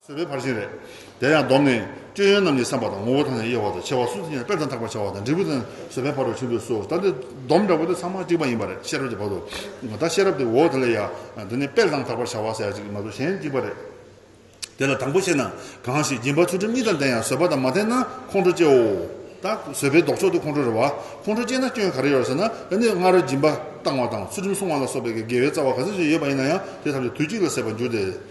གསོད་པའི་ཕར་ཕྱིན་རེད། དེ་ཡང་སྡོམ་ནི། སྤྱོད་ཡོན་རྣམས་ཀྱི་བསམ་པ་དང་ངོ་བོ་དང་ཡང་དབྱེ་བ་དང་ཕྱེ་བ་གསུམ་ཡིན་ལ་དཔེར་དང་ཐག་པ་ཆ་བ་དང་འབྲས་བུ་དང་བཟོད་པའི་བར་དུ་ཕྱིན་དགོས་སོ། ད་ནི་སྡོམ་འདྲ་བོ་དེ་ཚང་མ་གཅིག་པ་ཡིན་པ་རེད་ཤེས་རབ་ཀྱི་བར་དུ། ད་ཤེས་རབ་དེ་འོ་དེ་ལ་ཡ། འདི་ནི་དཔེར་དང་ཐག་པར་བྱ་བ་ཟེར་ཡ་གཅིག་མ་གཏོགས་གཞན་གཅིག་པ་རེད། དེ་ལ་དང་པོ་བཤད་ན། གང་ཞིག་སྦྱིན་པ་ཚུལ་ཁྲིམས་གཉིས་དང་ལྡན་ཡང་བཟོད་པ་དང་མ་ལྡན་ན་ཁོང་ཁྲོ་སྐྱེའོ། ད། བཟོད་པའི་ལྡོག་ཕྱོགས་དེ་ཁོང་ཁྲོ་རེད་བ། ཁོང་ཁྲོ་སྐྱེས་ན་སྐྱོན་ག་རེ་ཡོད་ཟེར་ན། ད་ནི་སྔར་སྦྱིན་པ་བཏང་བ་དང་ཚུལ་ཁྲིམས་སྲུང་བ་ལ་སོགས་པའི་དགེ་བའི་རྩ་བ་ག་ཚོད་ཅིག་ཡོད་པ་ཡིན་ན་ཡང་དེ་ཐམས་ཅད་དུས་གཅིག་ལ་ཟད་པར་འགྱུར་ཏེ།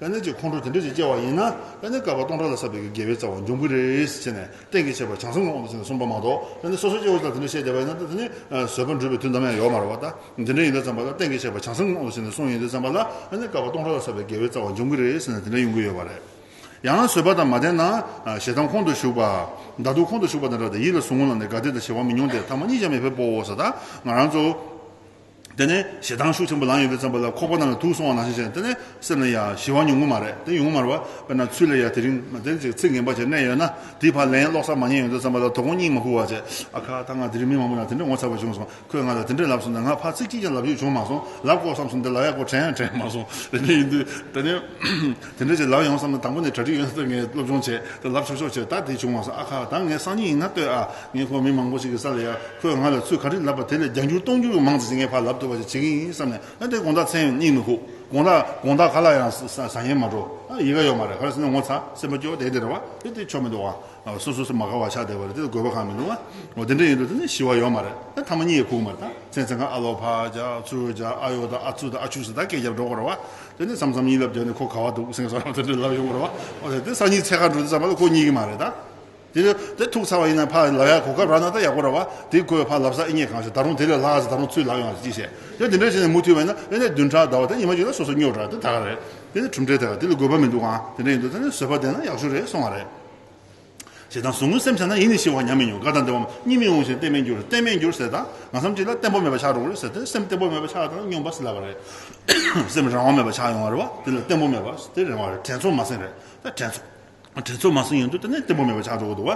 པད་ནི་ཅིག་ཁོང་ཁྲོ་དེ་འདྲ་ཞིག་སྐྱེ་བ་ཡིན་ན་པད་ནི་བསྐལ་པ་སྟོང་ཕྲག་ལ་བསགས་པའི་དགེ་བའི་རྩ་བ་འབྱུང་གི་རེད་ཟེར་ནས་གཏན་གྱི་བྱས་པ་བྱང་སེམས་ལ་འོང་དུ་ཟིན་ནས་གསུངས་པ་མ་གཏོགས་པད་ནི་སོ་སོ་སྐྱེ་བོ་ཅིག་ལ་དེ་འདྲ་བཤད་བསྡད་པ་ཡིན་ན་དེ་ནི་བཟོད་པ་འགྲུབ་པའི་དུས་འདམ་ཡང་ཡོད་མ་རེད་བ་ད་འདི་འདྲ་ཡིན་ད་བརྩམས་པ་ལ་གཏན་གྱི་བྱས་པ་བྱང་སེམས་ལ་འོང་དུ་ཟིན་ནས་གསུངས་ཡིན་དུ་བརྩམས་པ་ལ་པད་ནི་བསྐལ་པ་སྟོང་ཕྲག་ལ་བསགས་པའི་དགེ་བའི་རྩ་བ་འབྱུང་གི་རེད་ཟེར་ནས་དེ་འདྲ་ཡོང་གི་ཡོད་བ་རེད། ཡང་ན་བཟོད་པ་དང་མ་ལྡན་ན་ཞེ་སྡང་ཁོང་དུ་ཞུགས་པ། མདའ་སྡུག་ཁོང་དུ་ཞུགས་པ་དེ་འདྲ་དང་ཡིད་ལ་ཟུག་རྔུ་ལངས་ཏེ་དགའ་བདེ་དང་བྱེ་བ་མི་མྱོང་སྟེ་ཐ་མ་གཉིས་ཀྱང་མི་ཕེབས་པོ་ཟ་ད་ང་རང་ཚོ། དེ་ནས་ཞེ་སྡང་ཤུགས་ཆེན་པོ་ལངས་ཡོད་དེ་བརྩམས་པ་ལ་ཁོག་པ་རྣམས་ལ་དུག་སོང་བ་ནང་བཞིན་བྱས་ནས་དེ་ནས་སེམས་ལ་ཡ། ཞི་བ་ཉུང་ངུ་མ་རེད་དེ་ཉུང་ངུ་མ་རེད་བ། དཔེར་ན་ཚུལ་ལས་ཡ་དེ་རིང་མ་དེར་ཅིག་ཚིག་ངན་པ་བྱས་ནས་ཡོད་ན་དེའི་བར་ལན་སློག་ས་མ་རྙེད་ཡོང་དུས་བརྩམས་པ་ལ་དོ་དགོང་སྙིང་མ་ཕུག་བ་བྱས། ཨ་ཁ་ད་ང་དེ་རིང་མི་མང་པོ་ལ་དེ་འདྲ་ངོ་ཚ་བ་བྱུང་སོང་ཁོས་ང་ལ་དེ་འདྲ་ལབ་སོང་ད་ང་ཕར་ཚིག་གཅིག་ཀྱང་ལབ་རྒྱུ་བྱུང་མ་སོང་ལབ་དགོས་བསམ་སོང་དེ་ལག་ཡག་པོ་དྲན་ཡང་དྲན་མ་སོང་རེ་ནས་ཡིན་དུས་དེ་ནས་དེ་འདྲ་ཅིག་ལབ་ཡོང་བསམ་ན་དང་པོ་ནས་གྲ་སྒྲིག་ཡོད་ན་ལྟོས་ངས་སློབ་སྦྱོང་བྱས་ད་ལབ་ཆོག་ཆོག་བྱས་ད་དེ་བྱུང་མ་སོང་ཨ་ཁ་ད་ངས་སང་ཉིན་ཡིན་ན་ལྟོས་ཨ། ངས་ཁོང་མི་མང་པོ་ཞིག་གི་ས་ལ་ཡར་ཁོས་ང་ལ་ཚུལ་ག་རིགས་ལབ་པ་དེ་ལས་རྒྱང་བསྐྱུར་སྟོང་བསྐྱུར་གྱི་མང་ཙེ་ཞིག་ངའི་ཕར་ལབ་ཐུབ་པ་ཞིག་བྱེད་ཀྱི་ཡིན་བསམ་ནས་ཨ་དེ་དགོངས་དག་མཚན་སྙིང་མི་ཁུག་དགོངས་དག་དགོངས་དག་ག་ལ་ཡང་བཟང་ཡིན་མ་འགྲོ་ཨ་ཡི་ག་ཡོད་མ་རེད་ག་རེ་ཟེར་ན་ངོ་ཚ་སེམས་པ་སྐྱོ་དེ་དེ་རེད་བ་དེ་དེ་ཆོ་མི་འདུག་ཨ་སོ་སོ་སེ་མ་ག་བ་ཆགས་བསྡད་པ་རེད་དེ་དགོས་པ་གང་མི་འདུག་ཨ་འོ་དེ་འདྲ་ཡིན་འགྲོ་དེ་ནི་ཞི་བ་ཡོད་མ་རེད་ཨ་ཐ་མ་སྙིང་ཡི་ཁུག་མ་རེད་ད་མཚན་མཚན་ག་ཨ་ལོ་ཕ་ཅག་ཚུལ་ཅག་ཨ་ཡོ་དང་ཨ་ཚུལ་དང་ཨ་ཆུ་ཟེར་ད་སྐད་རྒྱབ་འགྲོ་གོ་རེད་བ་དེ་ནི་བསམ་བསམ་ཡིད་ལབ་བྱས་ནས་ཁོ་ག་བ་འདུག་སེང་ཟོ་ར་བ་དེ་འདྲ་ལབ་ཡོང་གོ་རེད་བ་འོ་ད་དེ་སང་ཉིན་ཚེ་ག་འགྲོ་དེ་བསམ་པ་ལ་ཁོ་གཉིས་ཀྱི་མ་རེད་ད། དེ་ལས་དེ་ཐུག་ཚར་བ་ཡིན་ན་ཕ་ལབ་ཡག་གོ་སྐབས་རག་ན་ད་ཡག་པོ་ར་བ་དེ་དགོས་ཕ་ལབ་ས་ཨེ་རྙེད་གང་བྱས་ད་རུང་དེ་ལས་ལྷག་ས་ད་རུང་ཚུད་ལག་ཡོང་བ་ཅིག་བྱས་ཡོད་དེ་འདྲ་བྱས་ནས་མུ་མཐུད་བས་ན་ཨེ་ནས་བདུན་ཕྲག་ཟླ་བ་དེ་ཉི་མ་གཅིག་ལ་སོ་སོ་སྨྱོ་དྲགས་དེ་ད་ག་རེད་དེ་ནི་གྲུབ་འབྲས་དེ་ལ་དེ་ལས་དགོས་པ་མི་འདུག་ཨང་དེ་འདྲ་ཡིན་འདུག་ད་ནི་བཟོད་པ་ལྡན་ན་ཡག་ཤོས་རེད་སོང་བ་རེད། ཞེ་སྡང་ཟུག་རྔུ་སེམས་ཆགས་ན་ཡིད་ནི་ཤི་བ་ཉམས་མི་མྱོང་དགའ་དང་བདེ་བ་གཉིས་མི་འོང་ཞིང་བརྟན་མི་འགྱུར་བརྟན་མེད་འགྱུར་ཟེར་དང་ང་བསམ་གཅིག་ལ་བརྟན་པོ་མེད་པ་ཆགས་འགྲོ་གི་རེད་ཟེར་དེ་སེམས་བརྟན་པོ་མེད་པ་ཆགས་དང་སྙོམས་པ་སེལ་བ་རེད། སེམས་རང་དབང་མེད་པ་ཆགས་ཡོང་བ་རེད་བ་དེ་ལ་བརྟན་པོ་མེད་པ་དེ་རེད་བ་རེད་དྲན་ཚོར་མ་སེམས་རེད་ད་དྲན་ཚོར། དྲིན་ཚོར་མ་སོང་ཡང་དུས་དེ་ནས་བརྟན་པོ་མེད་པར་ཆགས་འགྲོ་གི་འདུག་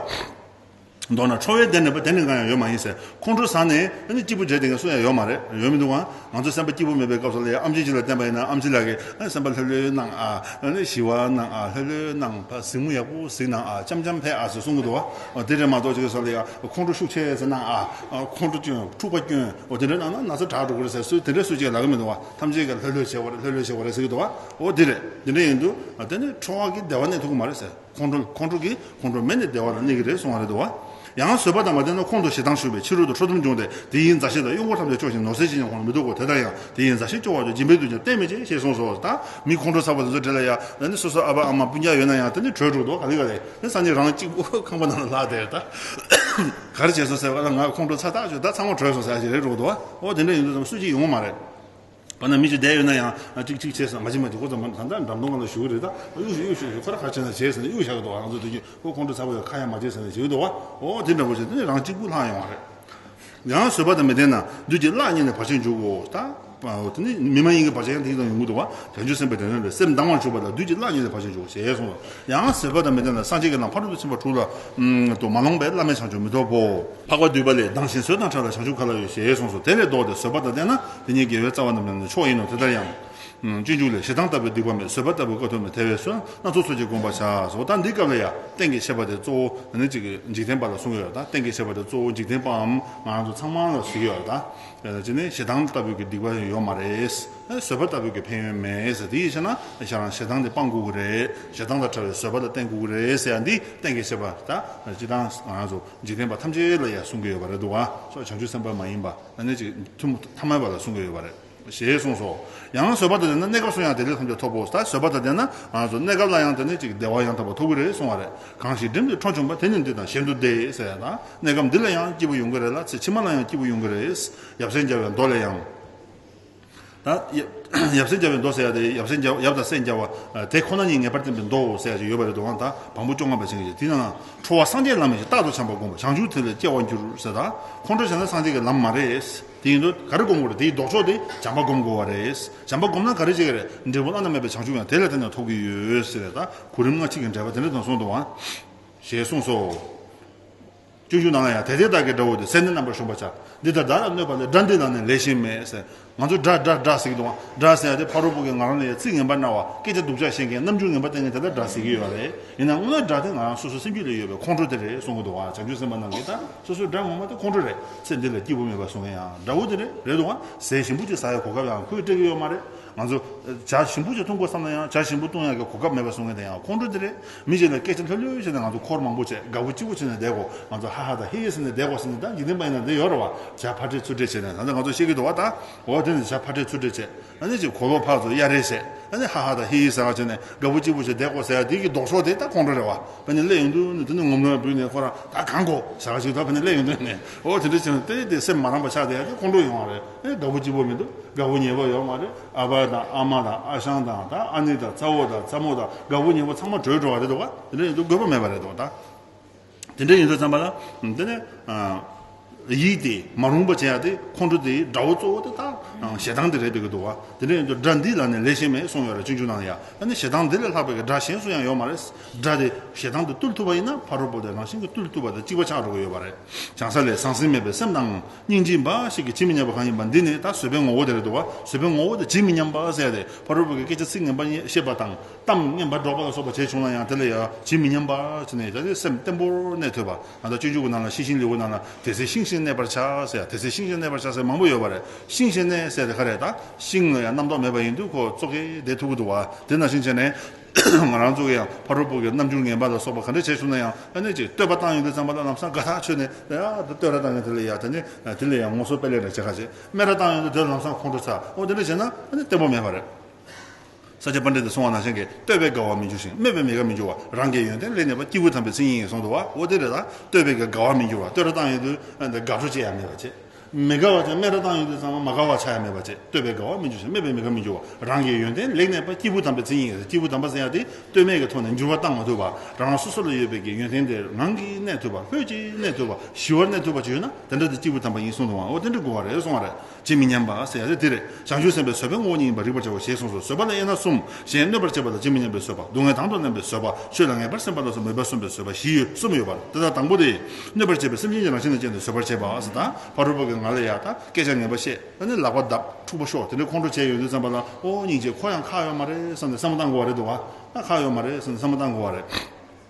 མདོར་ན་ཁྲོ་བའི་སྡེ་ནས་པ་དེ་ནི་གང་ཡང་ཡོད་མ་ཡིན་ཟེར་ཁོང་ཁྲོ་ཟ་ནས་སྐྱིད་པོ་བྱེད་དེ་ག་སུ་ཡང་ཡོད་མ་རེད་ཡོད་མི་འདུག་ཨང་ང་ཚོ་སེམས་པ་སྐྱིད་པོ་མེད་པའི་སྐབས་སུ་ལ་ཡ་ཨམ་ཆིན་ཆིན་ལ་བསྟན་པ་ཡིན་ན་ཨམ་ཆིན་ལགས་ཀྱིས་སེམས་པ་ལྷོད་ལྷོད་གནང་ཨ་ཞི་བ་གནང་ཨ་ལྷོད་ལྷོད་གནང་ཕ་གཟིགས་མོ་ཡག་པོ་གཟིགས་གནང་ཨ་ལྕམ་ལྕམ་ཕལ་ཨ་ཟེར་གསུང་གི་འདུག་ཨ་དེ་རེད་མ་གཏོགས་ཅིག་སོ་ལ་ཡ་ཁོང་ཁྲོ་ཤུགས་ཆེ་ཟེར་གནང་ཨ་ཁོང་ཁྲོ་སྐྱོན་འཁྲུག་པ་སྐྱོན་འོ་དེ་འདྲ་གནང་ན་ན་ཚ་དྲག་འགྲོ་གི་རེད་ཟེར་སུས་དེ་འདྲ་སུས་ཅིག་ལབ་གི་མི་འདུག་ཨ། ཐམས་ཅད་ཀྱིས་ལྷོད་ལྷོད་བྱས་པ་རེད་ལྷོད་ལྷོད་བྱས་པ་རེད་ཟེར་གྱི་འདུག་བ་འོ་དེ་རེད་དེ་འདྲ་ཡིན་འདུག་དེ་ནི་ཁྲོ་བ་གིས་བདེ་བ་གནས་ཐུབ་ཀྱི་མ་རེད་ཟེར་ཁོང་ཁྲོ་ཁོང་ཁྲོ་གིས་ཁོང་ཁྲོ་མེད་ནས་བདེ་བ་རང་གནས་ཀྱི་རེད་གསུངས་བ་རེད་འདུག་བ། ཡང་བཟོད་པ་དང་མ་བསྟེན་ན་ཁོང་དུ་ཞེ་སྡང་ཞུགས་པས་ཕྱི་རོལ་དུ་ཁྲོ་གཏུམ་བྱུང་སྟེ་དེ་ཡི་མཛའ་བཤེས་དང་གཡོག་འཁོར་ཐམས་ཅད་སྐྱོ་ཞིང་ནོར་སེལ་བྱེད་ཀྱང་ཁོང་ལ་མི་སྡུག་གོ་དེ་ལྟར་ཡང་དེ་ཡི་མཛའ་བཤེས་སྐྱོ་བ་ལས་སྦྱིན་པའི་དུས་ཀྱང་གཏན་མེད་ཅེས་ཞེས་གསུངས་སོ། ད་མི་ཁོང་ཁྲོ་ཟ་བ་དེ་ཚོ་བྲེལ་ལ་ཡ། ད་ནི་སོ་སོར་ཨ་ཕ་ཨ་མ་སྤུན་རྒྱག་ཡོད་ན་ཡང་དེ་ནི་གྲོས་འགྲོ་འདུག་ག་ལི་ག་ལི་ནི་ས་ནི་རང་གཅིག་པུ་ཁང་པ་ནང་ལ་ལྷག་དེར་ད་ག་རེ་བྱས་སོང་ཟེར་བ་ལ་ང་ཁོང་ཁྲོ་ཚ་ཐག་ཆོད་ད་ཚང་མ་བྲོས་སོང་ཟེར་བ་ཞིག་རེད་འགྲོ་གི་འདུག་བ། ཨོ་དེ་འདྲ་ཡིན་དུས་ཙམ་སུ་གཅིག་ཡོང་མ་རེད། འོ་ན་མི་གཅིག་བསྡད་ཡོད་ན་ཡང་ཅིག་ཅིག་བྱས་ཟིན་མ་བྱས་མ་བྱས་ཁོ་ཚོ་མ་ད་ལྟ་འགྲམ་སྟོང་ག་ལ་བཞུགས་རེད་ད་གཡུགས་ཤིག་གཡུགས་ཤིག་ཁོ་ར་ཁ་བྱས་ན་བྱས་ཟིན་གཡུགས་བཞག་གི་འདུག་ང་ཚོ་སྡོད་ཀྱི་ཁོ་ཁོང་ཁྲོ་ཚ་བོ་ཡོད་ཁ་ཡ་མ་བྱས་ཟིན་ནས་བྱས་གི་འདུག་ཨོ་དེ་འདྲ་བོ་བྱས་ནས་རང་གཅིག་པུ་ལྷག་ཡོང་བ་རེད། ཡང་བཟོད་པ་དང་མི་ལྡན་ན་བདུད་ཀྱི་གླགས་རྙེད་ནས་བར་ཆད་འཇུག་གོ། ད་ཨོ་དེ་ནི་མི་མ་ཡིན་གྱི་བར་ཆད་ཡང་དེ་ཙམ་ཡོང་གི་འདུག་བ་དལ་འབྱོར་སེམས་པའི་དྲན་རེ་རེ་སེམས་སྡང་བར་གྱུར་པ་ལ་བདུད་ཀྱི་གླགས་རྙེད་ནས་བར་ཆད་འཇུག་གོ་ཞེས་གསུངས་སོ། ཡང་ཟེར་བ་དང་མི་ལྡན་ལ་སངས་རྒྱས་ཀྱི་ལམ་ཕ་རོལ་ཏུ་ཕྱིན་པ་དྲུག་ལ་དུ་མ་ལོངས་པས་བླ་མེད་བྱང་ཆུབ་མི་འཐོབ་བོ། འཕགས་པ་བསྡུས་པ་ལས་ལྡང་ཞིང་བཟོད་དང་ཕྲ་ལ་བྱང་ཆུབ་ག་ལ་ཡོད་ཞེས་གསུངས་སོ་དེ་ལས་བཟློག་སྟེ་བཟོད་པ་དང་ལྡན་ན་དེ་ཉིད་དགེ་བའི་རྩ་བ་རྣམས་ལེན་ནི་མཆོག་ཡིན་ནོ་དེ་ལྟར་ཡང། སྤྱོད་འཇུག་ལས་ཞེ་སྡང་ལྟ་བུའི་སྡིག་པ་མེད་བཟོད་པ་ལྟ་བུ་ཀ་ཐུབ་མེད་དེ་བས་བསོད་ནམས་ཚོགས་གསོག་ཅིག་བསྒོམ་པར་བྱའོ། ད་འདི་སྐབས་ལ་ཡང་གཏན་གྱི་ཆད་པ་དེ་གཙོ་བོ་ནི་གཅིག་གིས་འཇིག་རྟེན་པ་ལ་བསྲུང་བའི་བར་དང་གཏན་གྱི་ཆད་པ་དེ་གཙོ་བོ་འཇིག་རྟེན་པའམ་ང་རང་ཚོ་ཚང་མ་ལ་བཟོད་ཀྱི་བར་དང། གཅིག་ནི་ཞེ་སྡང་ལྟ་བུའི་སྡིག་པ་ཡོད་མ་རེད། བཟོད་པ་ལྟ་བུ་གི་ཕན་ཡོན་མེད་ཟེར་དེའི་ཕྱིར་ན་ཞེ་སྡང་ཞེ་སྡང་དེ་སྤངས་དགོས་ཀྱི་རེད་ཞེ་སྡང་དང་བྲལ་བའི་བཟོད་པ་ལ་བརྟེན་དགོས་ཀྱི་རེད་ཟེར་ཡ་འདི་གཏན་འཁེལ་བྱས་པ་ད་སྤྱི་དང་ང་རང་ཚོ་འཇིག་རྟེན་པ་ཐམས་ཅད་ལ་ཡང་གསུང་གི་ཡོད་པ་རེད་འདུག་བ་སོགས་བྱང་ཆུབ་སེམས་དཔའ་མ་ཡིན་པ་ན་གནས་གཅིག་ཐུན་མོང་ཐ་མལ་པ་ལ་གསུང་གི་ཡོད་པ་རེད་ཞེས་གསུངས་སོ། ཡང་ན་བཟོད་པ་དང་ལྡན་ན་གནས་སྐབས་སུ་ཡང་དེ་ལས་ཐམས་ཅད་འཐོབ་བོ་ད་བཟོད་པ་དང་ལྡན་ན་ང་རང་ཚོ་གནས་སྐབས་ལ་ཡང་དེ་ནས་གཅིག་བདེ་བ་ཡང་དག་པ་འཐོབ་ཀྱི་རེད་གསུང་བ་རེད་གང་ཞིག་འགྲིམ་དུ་འཕྲོ་བྱུང་བ་དེ་ནི་འདི་དང་གཞན་དུ་བདེ་ཟེར་ཡ་དང་གནས་སྐབས་འདི་ལ་ཡང་སྐྱིད་པོ་ཡོང་གི་རེད་ལ་ཚེ་ཕྱི་མ་ལ་ཡང་སྐྱིད་པོ་ཡོང་གི་རེད་ཡབ་སྲས་འཇའ་བའི་མདོ་ལས་ཡང། ད། ཡབ་སེམས་བརྒྱ་བའི་མདོ་ཟེར་བ་དེ་ཡབ་སེམས་བརྒྱ་ཡབ་དང་སེམས་བརྒྱ་བ་དེ་ཁོ་ན་ཉིད་ངེས་པར་བསྟན་པའི་མདོའོ་ཟེར་བ་ཞིག་ཡོད་པ་རེད་འདུག་ཨང་ད་བམ་པོ་བཅོ་ལྔ་པ་ཅན་གྱི་དེ་ན་ན་ཁྲོ་བ་སངས་རྒྱས་ལམ་ཡིན་ཞེས་རྟག་ཏུ་བྱམས་པ་བསྒོམས་པ་བྱང་ཆུབ་ཐིག་ལེར་སྐྱེ་བར་འགྱུར་ཟེར་ད། ཁོང་ཁྲོ་བྱེད་ན་སངས་རྒྱས་ཀྱི་ལམ་མ་རེད། དེ་ཡིན་དུས་ག་རེ་བསྒོམ་དགོས་རེད་དེའི་ལྡོག་ཕྱོགས་དེ་བྱམས་པ་བསྒོམ་དགོས་བ་རེད། བྱམས་པ་བསྒོམ་ན་ག་རེ་བྱེད་ཀྱི་རེད་འབྲས་བུ་བླ་ན་མེད་པའི་བྱང་ཆུབ་ཡང་དེ་ལས་ཐོན་ནས་ཐོབ་ཀྱི་ཡོད་ཟེར་བས་ད་གོ་རིམ་སྔ་ཕྱི་གི་འགྲེལ་པ་དེ་འདྲ་དང་གསུངས་འདུག་ཨང། ཞེས་གསུངས་སོ། སྤྱོད་འཇུག་ནང་ཡང་དེ་དེ་དག་གི་སྒྲ་འོད་དུ་གསལ་ནི་རྣམ་པར་གཞོམ་པར་བྱ། འདི་ལྟར་སྒྲ་ལ་གནོད་པ་ལས་སྒྲ་འདི་ལ་ནི་ལས་གཞན་མེད། ང་ཚོ་སྒྲ་སྒྲ་སྒྲ་ཟེར་གྱི་འདུག་ང་སྒྲ་ཟེར་ཏེ་ཕ་རོལ་པོ་གི་ངག་རོང་ནས་ཡང་ཚིག་ངན་པར་སྣང་བ་སྐད་ཆ་སྡུག་ཅག་བཤད་མཁན་རྣམ་འགྱུར་ངན་པ་སྟེ་ངས་དེ་ལྟར་སྒྲ་ཟེར་གྱི་ཡོད་པ་རེད། ཡིན་ནའང་སྔོན་སྒྲ་དེ་ང་རང་སོ་སོའི་སེམས་རྒྱུད་ལས་ཡོད་པའི་ཁོང་ཁྲོ་དེ་རེད་གསུང་གི་འདུག་བྱང་ཆུབ་སེམས་དཔའ་རྣམས་ཀྱིས་ད་སོ་སོའི་སྒྲ་ངོ་མ་དེ་ཁོང་ཁྲོ་རེད། ཚེ་འདི་ལ་སྐྱིད་པོ་མེད་པར་བཟོ་མཁན་ཡང་དགྲ་བོ་དེ་རེད་རེད་འདུག་ང་ཟས་ཞིམ་པོ་གཅིག་ཟ་ཡའི་གོ་སྐབས་ཡང་ཁོས་སྤྲད་ཀྱི་ཡོད་མ་རེད། ང་ཚོ་བྱ་ཞིམ་པོ་གཅིག་འཐུང་དགོས་བསམ་ན་ཡང་བྱ་ཞིམ་པོ་བཏུང་ཡ་གི་གོ་སྐབས་མེད་པར་བཟོ་མཁན་དེ་ཡང་ཁོང་ཁྲོ་དེ་རེད། མི་བྱས་ནས་སྐད་ཆ་ལྷོད་ལྷོད་བྱས་ནས་ང་ཚོ་འཁོར་མང་པོ་བྱས་དགའ་བོ་སྐྱིད་བོ་བྱས་ནས་བསྡད་གོ་ང་ཚོ་ཧ་ཧ་དང་ཧེ་ཧེ་ཟེར་ནས་བསྡད་གོ་ཟེར་ནས་ད་འཇིག་རྟེན་པ་ཡིན་ན་འདི་ཡོད་རེད་བ་བྱས་ཕར་ཁྲེལ་ཚུར་ཁྲེལ་བྱས་ནས་ད་ནི་ང་ཚོ་ཤེས་ཀྱི་འདུག་བ་ད་འོ་དེ་ནི་བྱས་ཕར་ཁྲེལ་ཚུར་ཁྲེལ་བྱས་ད་ནི་ཅིག་གོ་ལོག་ཕག་ཚོ་གཡའ་རེ་བྱས་ད་ནི་ཧ་ཧ་དང་ཧེ་ཧེ་ཟེར་བ་བྱས་ནས་དགའ་བོ་སྐྱིད་བོ་བྱས་བསྡད་གོ་ཟེར་བ་དེ་གི་ལྡོག་ཕྱོགས་དེ་ད་ཁོང་ཁྲོ་རེད་བ་བ་ནི་གླས་ཡོང་དུས་ནི་དེ་ནི་ངོམ་རོའི་བུ་ནི་ཁོ་རང་ད་གང་གོ་ཟེར་བ་ཞིག་ད་བ་ནི་གླས་ཡོང་དུས་ནི་འོ་དེ་འདྲ་བྱས་ནས་དེ་དེ་སེམས་མ་རངས་པ་ཆགས་དེ་ཡ་དེ་ཁོང་ཁྲོ་ཡོང་བ་རེད་ཨེ་དགའ་བོ་སྐྱིད་བོ་མི་འདུག་དགའ་བོ་ཉེས་པོ་ཡོད་མ་རེད། ཨ་ཕ་དང་ཨ་མ་དང་ཨ་ཞང་དང་ད་ཨ་ནེ་དང་རྩ་བོ་དང་རྩ་མོ་དང་དགའ་བོ་ཉེ་བོ་ཚང་མ་བྲོས་འགྲོ་བ་རེད་དོ་དེ་འདྲ་ཡིན་དུས་དགོས་པ་མེད་པ་རེད་དོ་ད། དེ་འདྲ་ཡིན་དུས་བསམ་པ་ན་དེ་ནས་ཡིད་དེ་མ་རུང་པ་བྱས་ཡག་དེ་ཁོང་ཁྲོ་དེའི་དགྲ་བོ་གཙོ་བོ་དེ་ད་ཞེ་སྡང་དེ་རེད་དགོས་དོ་དེ་འདྲ་ཡིན་དུས་དགྲ་འདི་ལ་ནི་ལས་གཞན་མེད་གསུངས་ཡོད་རེད་གཅིག་འཇུག་གནང་ཡ་ཨ་ནེ་ཞེ་སྡང་འདི་ལས་ལྷག་པའི་དགྲ་གཞན་སུ་ཡང་ཡོད་མ་རེད་དགྲ་དེ་ཞེ་སྡང་དེ་བཏུལ་ཐུབ་པ་ཡིན་ན་ཕ་རོལ་པོ་དེ་རང་བཞིན་གྱིས་བཏུལ་ཐུབ་པ་དང་གཅིག་པ་ཆགས་འགྲོ་གི་ཡོད་པ་རེད་བྱང་ས་ལས་ཟང་ཟིང་མེད་པའི་སེམས་དང། སྙིང་རྗེ་འབའ་ཞིག་གིས་ཇི་མི་སྙམ་པ་གང་ཡིན་པ་འདི་ནི་ད་གཟོད་པའི་ངོ་བོ་དེར་འདུག་གཟོད་པའི་ངོ་བོ་དེ་ཇི་མི་སྙམ་པ་གསལ་ཏེ་ཕ་རོལ་པོ་གི་སྐད་ཆ་ཚིག་ངན་པ་བཤད་པ་དང་གཏམ་ངན་པ་སྒྲོག་པ་ལ་སོགས་པ་བྱས་བྱུང་ན་ཡང་དེ་ལ་ཡང་ཇི་མི་སྙམ་པ་བྱས་ནས་ཡང་དེ་སེམས་བརྟན་པོར་གནས་ཐུབ་པ་ད་ལྟ་སྤྱོད་འཇུག་གི་ནང་ལ་ཤིང་ཤིང་ལེའུ་ནང་ལ་དེ་ཚེ་ཤིང་ཤིང་གནས་པར་བྱ་ཟེར་དེ་ཚེ་ཤིང་ཤིང་གནས་པར་བྱ་ཟེར་མང་པོ་ཡོད་པ་རེད་ཤིང་ཤིང་གནས་ཟེར་དེ་ག་རེད་ད་ཤིང་ལ་ཡང་རྣམ་རྟོག་མེད་པ་ཡིན་དུས་ཁོ་བཙོ་གའི་དེ་ཐུག་གི་འདུག་བ་དེ་ནང་བཞིན་བྱས་ནས། ང་རང་ཚོ་ཡང་ཕ་རོལ་པོ་གི་རྣམ་འགྱུར་ངན་པ་ལ་སོགས་པ་ག་འདྲ་བྱས་བྱུང་ན་ཡང་ཨ་ནི་ཅིག་བསྟོད་པ་བཏང་ཡོང་དུས་ཙམ་པ་ལ་ལམ་སང་དགའ་ཐག་ཆོད་ནས་ཨ་ཡ་ད་བསྟོད་ར་བཏང་ཡོང་དེ་ལ་ཡ་ད་ནི་དེ་ལས་ཡང་ངོ་སོ་པད་ལེགས་འདྲ་བྱེད་ཁ་ཅིག་སྨད་ར་བཏང་ཡོང་དུས་དེར་ལམ་སང་ཁོང་ཁྲོ་ཚ་འོ་དེ་འདྲ་བྱས་ན་ཨ་ནི་བརྟན་པོ་མེད་པ་རེད། ས་ཆ་པ་འདྲེ་འདི་སོང་བ་ན་གཞན་གྱིས་བསྟོད་པས་དགའ་བ་མི་འགྱུར་ཞིང་སྨོད་པས་མི་དགའ་མི་འགྱུར་བ་རང་གི་ཡོན་ཏན་ལས་ནད་པ་སྐྱེས་བུ་དམ་པའི་ཚིག་ཉིད་ངན་སོང་དུ་བ་འོ་དེ་རེད་ད་བསྟོད་པས་གི་དགའ་བ་མི་འགྱུར་བ་བསྟོད་ར་བཏང་ཡོང་དུས་ཨ་ནི་དགའ་སྤྲོ་ཅི་ཡང་མེད་པ་བྱེད། མི་དགའ་བ་བཅས་སྨད་དྲ་བཏང་ཡོད་དུས་ཙམ་ལ་མ་དགའ་བ་ཆགས་ཡ་མེད་པ་བཅས་ལྟོས་པའི་དགའ་བ་མི་འགྱུར་ཞིང་སྨད་པའི་མི་དགའ་མི་འགྱུར་བ་རང་གི་ཡོན་ཏན་ལེགས་གནས་པ་སྐྱེས་བུ་དམ་པའི་མཚན་ཉིད་ཡིན་ཟེར་སྐྱེས་བུ་དམ་པ་ཟེར་ཡ་དེ་ལྟོས་མེད་ཀྱི་ཐོག་ནས་འགྱུར་བ་བཏང་མ་ཐུབ་པར་རང་རང་སོ་སོ་ལ་ཡོད་པའི་ཀྱི་ཡོན་ཏན་དེ་ངང་གིས་གནས་ཐུབ་པ་ལྷོད་ཀྱིས་གནས་ཐུབ་པ་ཞི་བར་གནས་ཐུབ་པ་བཅས་ཡོད་ན་དེ་འདྲ་དེ་སྐྱེས་བུ་དམ་པ་ཡིན་གསུང་འདུག་ཨང་ཨོ་དེ་འདྲའི་གོ་བ་རེ་སོང་བ་རེད་ཅེས་མི་སྙམ་པ་ཟེར་ཡ་རེད་དེ་རེད། བྱང་ཆུབ་སེམས་དཔའི་བཟོད་པའི་ངོ་བོ་ཉིད་ཡིན་པར་རིག་པར་བྱའོ་ཞེས་གསུངས་སོ་བཟོད་པ་ལ་དབྱེ་ན་གསུམ། གཞན་གནོད་པར་བྱེད་པ་དང་བྱེད་མི་ཉན་པའི་བཟོད་པ་སྡུག་བསྔལ་དང་དུ་བླངས་པའི་བཟོད་པ་ཆོས་ལ་ངེས་པར་སེམས་པ་ལ་སོགས་མོས་པ་གསུམ་པའི་བཟོད་པ་བཞི་ཡོད་གསུམ་ཡོད་པར་འདི་དག་དང་པོ་སྟེ། གནོད་པར་བྱེད་པའི་སེམས་ཅན་གྱི་རང་བཞིན་ལ་ཅན་དུ་བཟོད་པར་བྱེད་པ་ས་དང་བ་རུ་པ་གའི་ང་ལ་ཡ་དང་སྐད་ཆ་ངན་པ་བཤད་ད་ནི་ལག་པ་བརྡབ་འཁྲུག་པ་ཤོག་དེ་འདྲའི་ཁོང་ཁྲོ་བྱས་ཡོང་དུས་བསམ་པ་ལ་ཨོ་སྙིང་རྗེ་ཁོ་ཡང་ཁག་ཡོད་མ་རེད་བསམ་ནས་བསམ་མ་བཏང་དགོ་བ་རེད་འདུག་ཨ་ཁག་ཡོད་མ་རེད་བསམ་ནས་བསམ་མ་བཏང་དགོ་བ་རེད།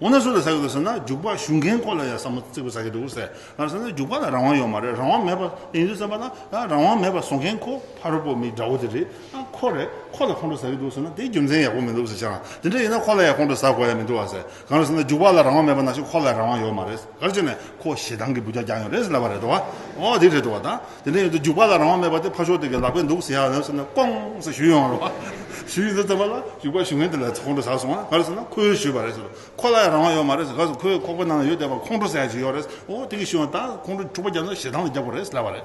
འོ་ན་སུ་ལ་ཟ་གི་འདུག་ཟེར་ན་རྒྱུག་པ་ཞུ་མཁན་ཁོ་ལ་ཡང་བསམ་བློ་རྩེ་གུ་ཟ་གི་འདུག་ཟེར། ང་རང་བསམ་ན་རྒྱུག་པ་ལ་རང་དབང་ཡོད་མ་རེད་རང་དབང་མེད་པ་ཡིན་དུས་བསམ་པ་ན་རང་དབང་མེད་པ་བཟོ་མཁན་ཁོ་ཕ་རོལ་པོ་མི་དགྲ་བོ་དེ་རེད་ཁོ་རེད་ཁོ་ལ་ཁོང་ཁྲོ་ཟ་གི་འདུག་ཟེར་ན་དེ་རྒྱུ་མཚན་ཡག་པོ་མི་འདུག་ཟེར་བྱས་ན་དེ་འདྲ་ཡིན་ན་ཁོ་ལ་ཡང་ཁོང་ཁྲོ་ཟ་དགོས་ཡ་མི་འདུག་བ་ཟེར་གང་རེད་ཟེར་ན་རྒྱུག་པ་ལ་རང་དབང་མེད་པ་ན་ཞིག་ཁོ་ལ་རང་དབང་ཡོད་མ་རེད། གར་བྱས་ནས་ཁོ་ཞེ་སྡང་གི་འབུ་ཅག་རྒྱག་ཡོང་རེད་ཟེར་ལབ་པ་རེད་འགྲོ་བ། འོ་དེ་རེད་འགྲོ་བ་ད། དེ་འདྲའི་ཡོད་དུ་འཇུག་པ་ལ་རང་དབང་མེད་པ་དེ་ཕར་ཞོག་དེ་གའི་ལག་པས་འདུག་ཟེར་ཡག་ཟེར་ནས་ཀོང་ཟེར་ཞུས་ཡོང་བ་རེད་བ། ཞུས་ཡོང་ཟེར་ཙམ་པ་ལ་འཇུག་པ་ཞུ་མཁན་དེ་ལ་ཁོང་ཁྲོ་ཟ་སོང་ང་ལ་ཟེར་ན་ཁོས་ཞུས་པ་རེད་ཟེར། ཁོ་ལ་ཡང་རང་དབང་ཡོད་མ་རེད་ཟེར་ག་ཟེར་ཁོའི་ཁོག་པའི་ནང་ལ་ཡོད་བསྡད་པ་ཁོང་ཁྲོ་ཟ་ཡག་ཞིག་ཡོད་རེད། འོ་དེ་གིས་ཞུས་ཡོང་ད་ཁོང་ཁྲོ་འཁྲུག་པ་རྒྱག་ན་ཞེ་སྡང་ལ་རྒྱག་དགོས་རེད་ཟེར་ལབ་པ་རེད།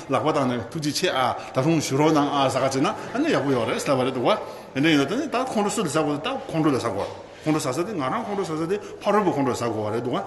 ལག་པ་དང་ནི་ཐུགས་རྗེ་ཆེ་ཨ། ད་རུང་ཞུ་རོགས་གནང་ཨ་བཟའ་བ་བྱེད་ན་ཨ་ནི་ཡག་པོ་ཡོད་རེད་བསལ་བ་རེད་འདུག་བ། དེ་འདྲ་ཡིན་ན་ད་ནི་ད་ཁོང་ཁྲོ་སུ་ལ་ཟ་དགོས་ད་ཁོང་ཁྲོ་ལ་ཟ་དགོས་རེད། ཁོང་ཁྲོ་ཟ་ས་དེ་ང་རང་ཁོང་ཁྲོ་ཟ་ས་དེ་ཕ་རོལ་པོ་ཁོང་ཁྲོ་ཟ་དགོས་བ་རེད་འདུག་བ།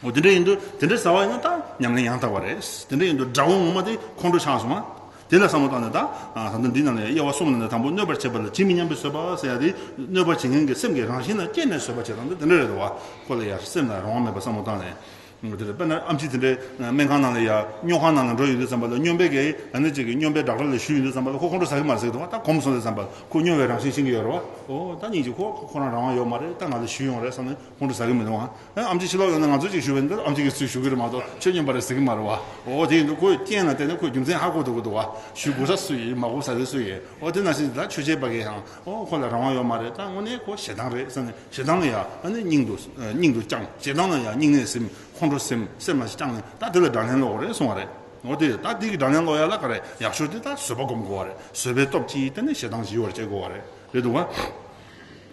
འོ་དེ་འདྲ་ཡིན་དུ་དེ་འདྲ་ཟ་བ་ཡིན་ན་ད་ཉམས་ལེན་ཡང་དག་བ་རེད། དེ་འདྲ་ཡིན་དུ་དགྲ་བོ་ངོ་མ་དེ་ཁོང་ཁྲོ་ཆགས་སོང་བ། དེ་ལ་བསམ་བློ་བཏང་ནས་ད། ད་ལྟ་འདི་ན་ལས་དབྱེ་བ་གསུམ་ལ་ནི་དང་པོ་གནོད་པར་བྱེད་པ་ལ་ཇི་མི་སྙམ་པའི་བཟོད་པ་ཟེར་ཡ་དེ། གནོད་པར་བྱེད་མཁན་གྱི་སེམས་ཀྱི་རང་བཞིན་ལ་སྐྱེས་ནས་བཟོད་པ་བྱེད་སྟངས་དེ་དེ་འདྲ་རེད་འདུག་བ། ཁོ་ལ་ཡར་སེམས་ལ་རང་དབང་མེད་པར་བསམ་བློ་བཏང་ནས། དེ་ལ་དཔེར་ན་ཨམ་ཆི་དེ་འདྲའི་སྨན་ཁང་ནང་ལ་ཡ་སྨྱོ་ཁང་ནང་ལ་འགྲོ་ཡི་འདུག་བསམ་པ་ལ་སྨྱོན་པའི་གེགས་ཡིན་ད་ནི་ཅིག་གིས་སྨྱོན་པའི་སྦྲག་སྦྲ་ལ་ཞུགས་ཡི་འདུག་བསམ་པ་ལ་ཁོ་ཁོང་ཁྲོ་ཟ་གི་མ་རེད་ཟེར་གི་འདུག་བ་ད་གོམས་སོང་ཟེར་བསམ་པ་ལ་ཁོ་སྨྱོ་བའི་རང་བཞིན་ཤེས་ཀྱི་ཡོད་རེད་བ། ཨོ་ད་ཉིན་གཅིག་ཁོ་ཁོ་རང་རང་དབང་ཡོད་མ་རེད་ད་ང་ལ་ཞུས་ཡོང་རེད་བསམ་ནས་ཁོང་ཁྲོ་ཟ་གི་མི་འདུག་བ། ཨམ་ཆི་ཕྱི་ལོག་ཡོང་ནས་ང་ཚོ་ཅིག་ཞུ་བའི་འདི་ལ་ཨམ་ཆི་གིས་ཚུར་ཞུ་གི་རེད་མ་གཏོགས་ཁྱོད་སྨྱོན་པ་རེད་ཟེར་གི་མ་རེད་བ། ཨོ་དེ་ཡིན་འདུག་ཁོའི་རྐྱེན་ལ་བལྟས་ནས་ཁོའི་རྒྱུ་མཚན་ཧ་གོ་ཐུབ་ཀྱི་འདུག་བ། ཞུ་དགོས་ས་སུ་ཡིན་མ་གོ་ས་རེད་སུ་ཡིན་ཨོ་དེ་ནང་བཞིན་དེ་ལ་ཆོས་བྱེད་པ་གིས་ཡང། ཨོ་ཁོ་ལ་རང་དབང་ཡོད་མ་རེད་ད་དངོས་གནས་ཁོ་ཞེ་སྡང་རེད་བསམ་ནས་ཞེ་སྡང་ན་ཡག་ཨ་ནི་སྙིང་དུ་སྙིང་དུ་བཅངས་ཞེ་སྡང་ན་ཡག་སྙིང་ནས་སེམས་ཁོང་ཁྲོ་སེམས་སེམས་མ་ཞིག་བཅངས་ནས་ད་དེ་ལ་དགྲ་ལན་སློག་གོ་རེད་གསུང་བ་རེད་ཨོ་དེ་ད་དེ་གི་དགྲ་ལན་སློག་ཡག་ལ་ག་རེ་ཡག་ཤོས་དེ་ད་བཟོད་པ་སྒོམ་དགོ་བ་རེད་བཟོད་པའི་སྟོབས་ཀྱིས་དེ་ནས་ཞེ་སྡང་ཞི་བར་བྱེད་དགོ་བ་རེད་རེད་འདུག་བ།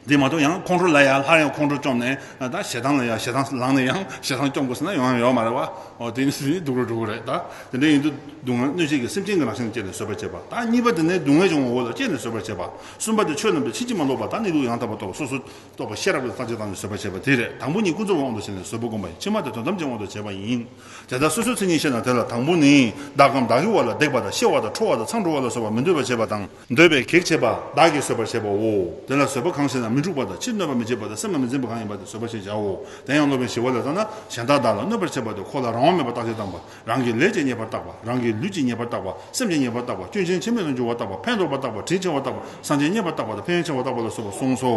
དེ་མ་གཏོགས་ཡང་ཁོང་ཁྲོ་ལ་ཡག་སླར་ཡང་ཁོང་ཁྲོ་བཅོམ་ནས་ད་ཞེ་སྡང་ལ་ཡག་ཞེ་སྡང་ལངས་ནས་ཡང་ཞེ་སྡང་བཅོམ་དགོ་ཟེར་ན་ཡང་ཡོད་མ་རེད་བ་ཨོ་དེ་ནི་སྡུག་རུ་འགྲོ་གི་རེད་ད། དེ་འདྲ་ཡིན་དུ་སྡུག་བསྔལ་གནོད་བྱེད་ཀྱི་སེམས་ཅན་གྱི་རང་བཞིན་ལ་སྤྱད་ནས་བཟོད་པར་བྱེད་པ་དང་གཉིས་པ་དེ་ནི་སྡུག་བསྔལ་འབྱུང་བའི་འོག་ལ་སྤྱད་ནས་བཟོད་པར་བྱེད་པ། གསུམ་པ་དེ་ཆོས་རྣམས་ཀྱི་ཕྱིན་ཅི་མ་ལོག་པ་དང་ནི་ལུགས་ཡང་དག་པར་རྟོགས་པ་སོ་སོར་རྟོག་པ་ཤེས་རབ་ལ་བརྟག་དཔྱད་བཏང་ནས་བཟོད་པར་བྱེད་པ་དེ་རེད་དང་པོ་གཉིས་ཀུན་རྫོབ་དབང་དུ་བྱས་ནས་བཟོད་པ་བསྒོམ་པ་ཡིན་ཕྱི་མ་དེ་དོན་ཐམས་ཅད་དབང་དུ་བྱས་པ་ཡིན། དེ་ལྟར་སོ་སོའི་མཚན་ཉིད་ཤེས་ན་དེ་ལ་དང་པོ་ནི་བདག་གམ་བདག་གི་བ་ལ་རྡེག་པ་དང་གཤེ་བ་དང་ཁྲོ་བ་དང་འཚང་འདྲོ་བ་ལ་སོགས་པ་མི་འདོད་པར་བྱེད་པ་དང། འདོད་པའི་གེགས་བྱེད་པ་བདག་གིས་བཟོད་པར་བྱེད་པའོ། དེ་ལ་བཟོད་པ་གང་ཞེ་ན་མི་འཁྲུགས་པ་དང་ཕྱིར་གནོད་པ་མི་བྱེད་པ་དང་སེམས་ལ་མི་འཛིན་པ་གང་ཡིན་པ་དེ་བཟོད་པ་ཞེས་བྱའོ། དེ་ཡང་སློབ་དཔོན་ཞི་བ་ལས་བརྟགས་ན་གཞན་དག་བདག་ལ་གནོད་པར་བྱེད་པ་དེ་ཁོ་ལ་རང་དབང་མེད་པར་བརྟག་དཔྱད་བཏང་པ། རང་གི་ལས་ཀྱི་ཉེས་པར་བརྟགས་པ། རང་གི་ལུས་ཀྱི་ཉེས་པར་བརྟགས་པ། སེམས་ཀྱི་ཉེས་པར་བརྟགས་པ། སྐྱོན་ཅན་ཕྱི་མས་ལ་འཇུག་བར་བརྟགས་པ། ཕན་འདོགས་པར་བརྟགས་པ། དྲིན་ཆེ་བར་བརྟགས་པ། གསང་ཆེན་རྙེད་པར་བརྟགས་པ་དང་ཕན་ཆེ་བར་བརྟགས་པ་ལ་སོགས་པ་གསུངས་སོ།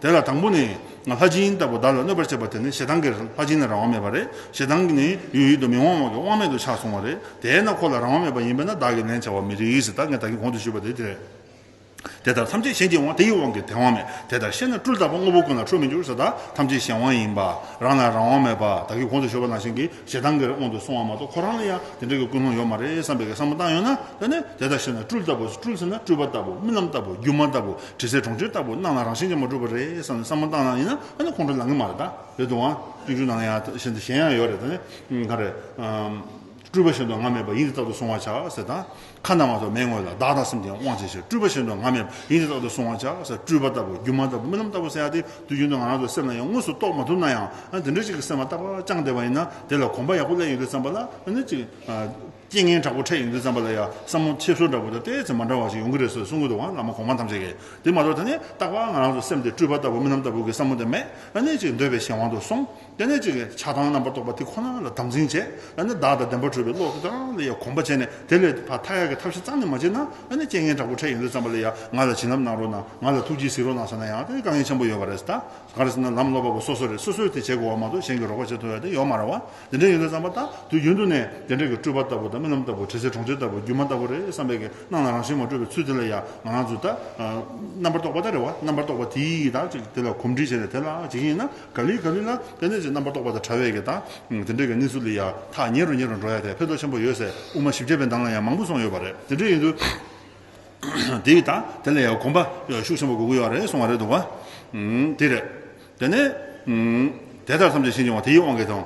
དེ་ལ་དང་པོ་ནི། ལྷ་སྦྱིན་ལྟ་བུ་བདག་ལ་གནོད་པར་བྱེད་པ་དེ་ནི་ཞེ་སྡང་གིས་ལྷ་སྦྱིན་ལ་རང་དབང་མེད་པ་རེད། ཞེ་སྡང་གིས་ནི་ཡུལ་ཡུལ་དུ་མི་དབང་བ་གི་དབང་མེད་དུ་ཆགས་སོང་བ་རེད། དེས་ན་ཁོ་ལ་རང་དབང་མེད་པ་ཡིན་པས་ན་བདག་གིས་ལན་བྱ་བར་མི་རིགས། ད་ངས་ད་གིས་གོང་དུ་ཞུས་པ་དེ་དེ་རེད། དེ་ལྟར་ཐམས་ཅད་གཞན་གྱི་དབང་དེ་ཡི་དབང་གིས་དེ་དབང་མེད་དེ་ལྟར་ཤེས་ན་སྤྲུལ་རྟག་པ་དངོས་པོ་ཀུན་ལ་འཕྲོ་མི་འགྱུར་ས་དག་ཐམས་ཅད་གཞན་དབང་ཡིན་པ་རང་ལ་རང་དབང་མེད་པ་བདག་གིས་གོང་དུ་ཞུས་པ་ནང་བཞིན་གྱི་ཞེ་སྡང་གི་རེ་སྔོན་དུ་སོང་བ་མ་གཏོགས་ཁོ་རང་ལ་ཡང་དེ་འདྲ་གི་ཀུན་སློང་ཡོད་མ་རེད་བསམ་པའི་གེ་སར་མ་བཏང་ཡོད་ན་ད་ནི་དེ་ལྟར་ཤེས་ན་སྤྲུལ་ལྟ་བུ་སྤྲུལ་ཟེར་ན་སྤྲུལ་པ་ལྟ་བུ་རྨི་ལམ་ལྟ་བུ་སྒྱུ་མ་ལྟ་བུ་དྲི་ཟའི་གྲོང་ཁྱེར་ལྟ་བུ་སྣང་ལ་རང་བཞིན་ཅན་མ་གྲུབ་པ་རེད་བསམ་ནས་བསམ་མ་བཏང་ན་ཡིན་ན་ད་ནི་ཁོང་ཁྲོ་ལང་གི་མ་རེད་ད་རེད་དུ་འང་སྤྱོད་འཇུག་ནང་ཡང་ཞེན་ད་ཞེན་ཡང་ཡོད་རེད་ད་ནི་གང་རེད། སྤྲུལ་པ་བཞིན་དུ་ང་མེད་པར་ཡིད་འདི་རྟག་ཏུ་བསྲུང་བར་བྱ། ཟེར་དང། ཁ་རྣ་བ་སོགས་མའི་ངོས་ལ་བདག་དང་སེམས་ཀྱི་དབང་བྱེད་ཕྱིར་སྤྲུལ་པ་བཞིན་དུ་ང་མེད་པར་ཡིད་འདི་རྟག་ཏུ་བསྲུང་བར་བྱ། ཟེར་སྤྲུལ་པ་ལྟ་བུ་སྒྱུ་མ་ལྟ་བུ་རྨི་ལམ་ལྟ་བུ་བསལ་ཏེ་དུས་རྒྱུན་དུ་ང་རང་ཚོའི་སེམས་ལ་ཡང་དངོས་སུ་རྟོགས་མ་ཐུབ་ན་ཡང་འདི་འདྲ་ཞིག་གི་སེམས་བ་རྟག་པར་བཅངས་བསྡད་པ་ཡིན་ན་དེ་ལ་གོམས་པ་ཡག་པོ་བསླད་ཡོང་དུས་བསམ་པ་ལ་ཨ་ནི་ཅིག། རྐྱེན་ངན་དྲག་པོ་འཕྲད་ཡོང་དུས་བསམ་པ་ལ་ཡ་བསམ་མོ་ཆེ་བཟོ་འདྲ་བོ་དང་བལྟས་ཚེ་མ་འདྲ་བ་ཞིག་ཡོང་གི་རེད་ཟེར་གསུང་གི་འདུག་བ་ལ་མ་གོང་མ་ཐམས་ཅད་ཀྱིས་དེ་མ་གཏོགས་ད་ནི་རྟག་པར་ང་རང་ཚོའི་སེམས་དེ་སྤྲུལ་པ་ལྟ་བུ་རྨི་ལམ་ལྟ་བུ་གི་བསམ་མོ་དེ་མེད་ཨ་ནི་ཅིག་འདོད་པའི་གཞན་དབང་དུ་སོང། ལྟེ་གནས་གཅིག་གིས་ཆགས་སྡང་རྣམ་པར་རྟོག་པ་དེ་ཁོ་ན་ལ་དམ་འཛིན་བྱས་ལ་ནི་བདག་དང་ལྡན་པར་གྲུབ་པའི་བློ་དེ་རང་ལ་ཡང་གོམས་པ་བྱས་ནས་དེ་ལས་ཕ་མཐའ་ཡས་ཀྱི་ཐབས་ཤེས་གཙང་ནས་མ་བྱས་ན་ལ་ནི་རྐྱེན་ངན་དྲག་པོ་འཕྲད་ཡོང་དུས་བརྩམས་པ་ལ་ཡང་ང་ལ་བྱིན་རླབས་གནང་རོགས་གནང་ང་ལ་ཐུགས་རྗེས་གཟིགས་རོགས་གནང་ཟེར་ན་ཡང་དེ་དཀའ་ངལ་ཆེན་པོ་ཡོད་པ་རེད་ག་རེ་ཟེར་ན་ལམ་སློབ་པ་པོ་སོ་སོ་རེད་སོ་སོས་དེ་བྱེད་དགོས་བ་མ་གཏོགས་གཞན་གྱིས་རོགས་པ་བྱེད་ཐུབ་ཡ་དེ་ཡོད་མ་ར་བ་དེ་འདྲས་ཡོང་དུས་བརྩམས་པ་ད་དུས་ཡུན་དུ་ནས་དེ་འདྲས་ཀྱི་སྤྲུལ་པ་ལྟ་བུ་དང་རྨི་ལམ་ལྟ་བུ་དྲི་ཟའི་གྲོང་ཁྱེར་ལྟ་བུ་སྒྱུ་མ་ལྟ་བུ་རེད་བསམ་པའི་གི་སྣང་ལ་རང་བཞིན་མ་གྲུབ་པའི་ཚུལ་དེ་ལ་ཡང་ང་རང་ཚོས་ད་རྣམ་པར་རྟོག་པ་ད་རེད་བ་རྣམ་པར་རྟོག་པ་དེས་ད་ཅིག་དེ་ལ་གོམས་འདྲིས་བྱས་ནས་དེ་ལ་འཇིགས་ཡེ་ན། ག་ལི་ག་ལི་ན་དཔེ་མཛོད་ཅིག་རྣམ་པར་རྟོག་པ་དང་བྲལ་བའི་གྱི་དང། དེ་འདྲའི་གྱི་གནས་ཚུལ་ལི་ཡ་ཐག་ཉེ་རུ་ཉེ་རུ་འགྲོ་ཡ་དེ་ཕེ་ཐོ་ཆེན་པོ་ཡོད་སའི་དབུ་མ་བཞི་བརྒྱ་པའི་འདང་ལ་ཡང་མང་པོ་སོང་ཡོད་པ་རེད་དེ་འདྲའི་ཡིན་དུས། དེའི་གི་དང་དེ་ལ་ཡང་གོམ་པ་ཤུགས་ཆེན་པོ་དགོས་ཀྱི་ཡོད་རེད་གསུང་བ་རེད་འདུག་བ། དེ་རེད། དེ་ནས། དེ་ལྟར་བསམ་གྱི་ཤེས་ཀྱི་བ་དེའི་དབང་གིས་དང།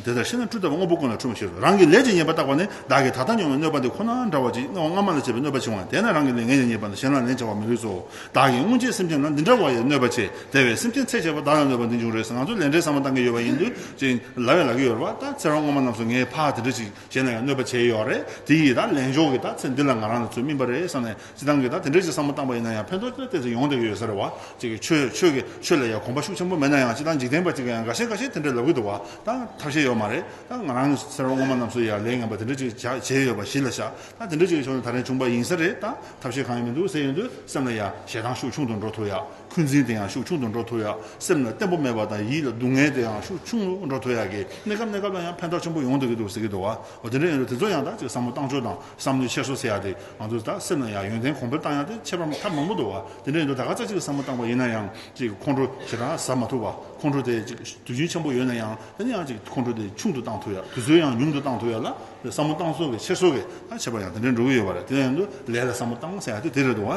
དེ་ལྟར་ཤེས་ན་སྤྲུལ་ལྟ་བ་དངོས་པོ་ཀུན་ལ་འཁྲུལ་མ་ཤེས་སོ་རང་གི་ལས་ཀྱི་ཉེས་པ་བརྟགས་པ་ནི་བདག་གིས་ད་ལྟ་མྱོང་བའི་གནོད་པ་འདི་ཁོ་ན་འདྲ་བ་ཅིག་སྔ་མ་སྔ་མ་ལ་བྱས་པའི་གནོད་པ་འཆིང་བ་དེས་ན་རང་གི་ལས་ངན་ལས་ཉེས་པ་འདི་གཞན་ལ་ལན་བྱ་བར་མི་ལུས་སོ། བདག་གིས་སྔོན་ཆད་སེམས་ཅན་ལ་འདི་འདྲ་བ་ཡང་གནོད་པ་ཆེ་དེ་བས་སེམས་ཅན་ཚེ་ཆད་པར་བདག་ལ་གནོད་པ་འདི་འབྱུང་རེས་ང་ཚོ་ལས་འབྲས་ཟ་མ་བཏང་གི་ཡོད་པ་ཡིན་དུས་ཅིང་ལ་བས་ལ་གི་ཡོད་རེད་བ་ད་ཚེ་རང་ངོ་མ་ནམ་སོ་ངའི་ཕ་དེ་འདྲ་ཞིག་གཞན་ལ་ཡང་གནོད་པ་ཆེ་ཡོད་རེད་དེ་ཡིས་ད་ལན་ཞོག་གི་ད་ཚེ་འདི་ལ་ང་རང་ལ་ཚུལ་སྨིན་པ་རེད་བསམ་ནས་ཅི་ཐང་གི་ད་དེ་འདྲ་ཞིག་བསམ་བློ་བཏང་པ་ཡིན་ན་ཡང་ཕན་ཐོག་ཅི་ལ་བལྟས་ཚེ་ཡོང་བསྡད་ཀྱི་ཡོད་ས་རེད་བ་ཅིག་ཆོས་ཆོས་ཀྱི་ཆོས་ལ་ཡང་གོམས་པ་ཤུགས་ཆེན་པོ་མེད་ན་ཡང་ཅི་ཐང་འཇིག་རྟེན་པ་ཅིག་གི་ཡང་འགའ་ཤས་འགའ་ཤས་དེ་འདྲ་ལབ་གི་འདུག་བ་ད་ཐབས་ཤེས་ཡོད་མ་རེད་ད་ང་རང་ཚེ་རང་ངོ་མ་ནམ་སོ་ཡང་ལས་ངན་པ་དེ་འདྲ་ཅིག་བྱས་ཡོད་པ་གཞི་ལ་བཞག་ད་དེ་འདྲ་ཅིག་གི་ཕྱོགས་ནས་ད་རན་བྱུང་པ་ཡིན་ས་རེད་ད་ཐབས་ཤེས་གང་ཡང་མི་འདུག་ཟེར་ཡོང་དུས་སེམས་ལ་ཡ། ཞེ་སྡང་ཤུགས་ཆུང་དུ་འགྲོ་ཐུབ་ཡ། འཁོན་འཛིན་དེ་ཡང་ཤུགས་ཆུང་དུ་འགྲོ་ཐུབ་ཡ། སེམས་ལ་བརྟན་པོ་མེད་པ་དང་ཡིད་ལ་སྡུག་བསྔལ་དེ་ཡང་ཤུགས་ཆུང་དུ་འགྲོ་ཐུབ་ཡ། གནས་སྐབས་གནས་སྐབས་ལ་ཡང་ཕན་ཐོགས་ཆེན་པོ་ཡོང་འདོད་ཀྱི་འདུག་ཟེར་གྱི་འདུག་བ། དེ་འདྲ་ཡིན་རུང་དེ་ཚོ་ཡང་དག་ཅིག་བསམ་བློ་བཏང་ཕྱོགས་དང་བསམ་བློའི་འཁྱེར་སོ་ཟེར་ཡ་དེ་ང་ཚོ་ད་སེམས་ལ་ཡ། ཡོན་ཏན་གོང་འཕེལ་བཏང་ཡ་དེ་ཁྱད་པར་མ་ཐབས་མང་པོ་འདུག་བ། དེ་འདྲ་ཡིན་དུས་ད་ག་ཙག་ཅིག་བསམ་བློ་བཏང་བ་ཡིན་ན་ཡང་ཅིག་ཁོང་ཁྲོ་ཞེ་དྲག་ཟ་མ་ཐུབ་བ། ཁོང་ཁྲོ་དེ་ཅིག་དུས་རྒྱུན་ཆེན་པོ་ཡོད་ན་ཡང་དེ་འདྲ་ཡང་ཅིག་ཁོང་ཁྲོ་དེ་ཆུང་དུ་བཏང་ཐུབ་ཡ། དུས་ཚོད་ཡང་ཉུང་དུ་བཏང་ཐུབ་ཡ་ལ། བསམ་བློ་གཏང་སྲོལ་གྱི་ཕྱིར་སྲོལ་གྱི་བྱེད་པ་ཡང་དེ་འདྲའི་འགྲོ་གི་ཡོད་པ་རེད་དེ་ཡང་དུ་ལས་ལ་བསམ་བློ་གཏང་ཟེར་ཡག་དུས་དེ་རེད་འདུག་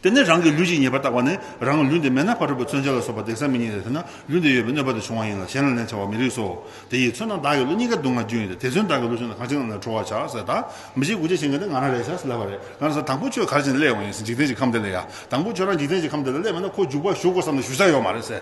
དེ་ནས་རང་གི་ལུས་ཀྱི་ཉེས་པར་བརྟག་པ་ནི་རང་གི་ལུས་འདི་མེད་ན་ཕ་གྲུ་པ་མཚོན་ཆ་ལ་སོགས་པ་འདེགས་ས་མི་རྙེད་དེ་ཐོས་ན་ལུས་འདི་ཡོད་པའི་གནོད་པ་དེ་བྱུང་བ་ཡིན་ལ་གཞན་ལ་ལན་བྱ་བ་མི་རིགས་སོ། དེ་ཡིས་མཚོན་ན་བདག་གི་ལུས་གཉིས་ཀ་སྡུག་བསྔལ་རྒྱུ་ཡིན་ཏེ་དེ་མཚོན་བདག་གི་ལུས་ཆུང་ན་གང་ཅི་ང་ལ་ཁྲོ་བར་བྱ་ཟེར་ད་མི་ཤེས་དགུ་བྱེད་བྱེད་མཁན་དེ་ང་རང་རེད་བྱ་སླ་བ་རེད་ང་རང་ས་དང་པོ་ཁྱོད་གར་བྱས་ནས་སླེབས་ཡོང་བ་ཡིན་ཟེར་འཇིག་རྟེན་གྱི་ཁམས་འདི་ལ་ཡ་དང་པོ་ཁྱོད་རང་འཇིག་རྟེན་གྱི་ཁམས་འདི་ལ་སླེབས་མེད་ན་ཁོ་འཇུག་པར་ཞུགས་དགོས་བསམ་ནས་ཞུ་ས་ཡོད་མ་རེད་ཟེར།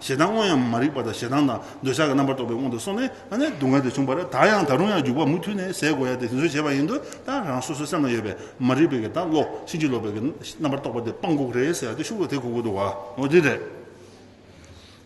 ཞེ་སྡང་དངོས་ཡང་མ་རིག་པ་དང་ཞེ་སྡང་དང་འདོད་ཆགས་ཀྱི་རྣམ་པར་རྟོག་པའི་དབང་དུ་སོང་ནས་ཨ་ནེ་སྡུག་བསྔལ་དེ་བྱུང་བར་ད་ཡང་ད་རུང་ཡང་རྒྱུག་པ་མུ་མཐུད་ནས་ཟད་དགོས་ཡ་དེ་དེ་ཚོའི་བྱས་པ་ཡིན་དུས་ད་རང་སོ་སོའི་སེམས་ལ་ཡོད་པའི་མ་རིག་པའི་གི་ད་ལོག་ཕྱིན་ཅི་ལོག་པའི་གི་རྣམ་པར་རྟོག་པ་དེ་སྤང་དགོས་རེད་ཟེར་ཡ་དེ་ཤུགས་ལ་དེ་གོ་དགོས་འདུག་བ་འོ་དེ་རེད།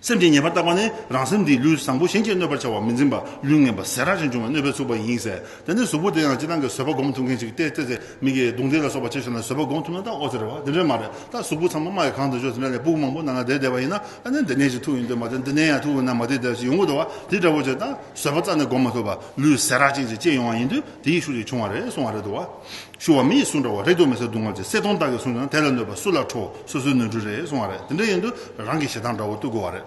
སེམས་ཀྱི་ཉེས་པར་བཏགས་པ་ནི་རང་སེམས་འདིས་ལུས་བཟང་པོ་གཞན་གྱིས་གནོད་པར་བྱ་བ་མི་འཛིན་པ་ལུས་ངན་པ་ཟས་རགས་ཅན་འབྱུང་བའི་གནོད་པས་ཚུགས་པ་ཡིན་ཟེར་དེ་ནས་གཟུགས་པོ་དེ་ཡང་ཅི་སྟངས་ཀྱི་བཟོད་པ་བསྒོམ་ཐུབ་མཁན་ཞིག་སྟེ་ཙེ་ཙེ་མིག་གིས་གདུང་འདེགས་ལ་སོགས་པ་བྱས་ཤོར་ནས་བཟོད་པ་བསྒོམ་ཐུབ་ན་ད་ཨོ་ཟེར་བ་དེ་འདྲ་མ་རེད་ད་གཟུགས་པོ་ཚང་མ་རྨ་ཡི་གང་དུ་འཇོག་ཟིན་པ་ལས་སྦུག་མང་པོ་ནང་ན་བསྡད་བསྡད་པ་ཡིན་ན་ད་ནི་འདི་ནས་ཅི་ཐུག་ཡིན་འདོད་མ་རེད་འདི་ནས་ཡང་ཐུག་འོ་ན་མ་བསྡད་བསྡད་ཞིག་ཡོང་གི་འདུག་བ་དེ་འདྲ་བོ་བྱས་ད་བཟོད་པ་རྩ་ནས་བསྒོམ་མ་ཐུབ་པ་ལུས་ཟད་རགས་ཅན་ཅིག་སྐྱེས་ཡོང་བ་ཡིན་དུས་དེ་ཡི་ཤུགས་ཀྱིས་བྱུང་བ་རེད་གསུང་བ་རེད་འདུག་བ། ཤུ་བ་མི་ཡི་གསུང་འདྲ་བོ་རེ་སྐྱོ་མི་ཟེར་སྡུག་བསྔལ་གྱི་གསེར་སྡོང་དག་གིས་བཟུང་ཀྱང་དེ་ལ་གནོད་པ་སུ་ལ་འཕྲོ་སོ་སོའི་ནོར་འཁྲུལ་རེད་གསུང་བ་རེད་དེ་འདྲ་ཡིན་དུས་རང་གི་ཞེ་སྡང་འདྲ་བོ་བཏུལ་དགོས་བ་རེད།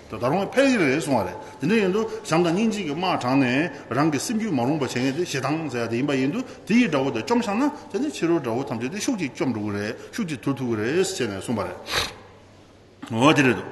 ད་ད་རུང་ཕལ་ཆེར་རེད་གསུངས་བ་རེད་དེ་འདྲ་ཡིན་དུ་བྱམས་དང་སྙིང་རྗེ་གི་དམག་དྲངས་ནས་རང་གི་སེམས་རྒྱུད་མ་རུང་པ་བྱེད་མཁན་དེ་ཞེ་སྡང་ཟེར་ཡ་དེ་ཡིན་པ་ཡིན་དུ་དེ་ཡི་དགྲ་བོ་དེ་བཅོམ་ཤག་ན་དེ་ནས་ཕྱི་རོལ་དགྲ་བོ་ཐམས་ཅད་དེ་ཤུགས་ཀྱིས་བཅོམ་འགྲོ་གི་རེད་ཤུགས་ཀྱིས་དུར་ཐུག་གི་རེད་ཟེར་ནས་གསུངས་པ་རེད། འོ་དེ་རེད་དོ།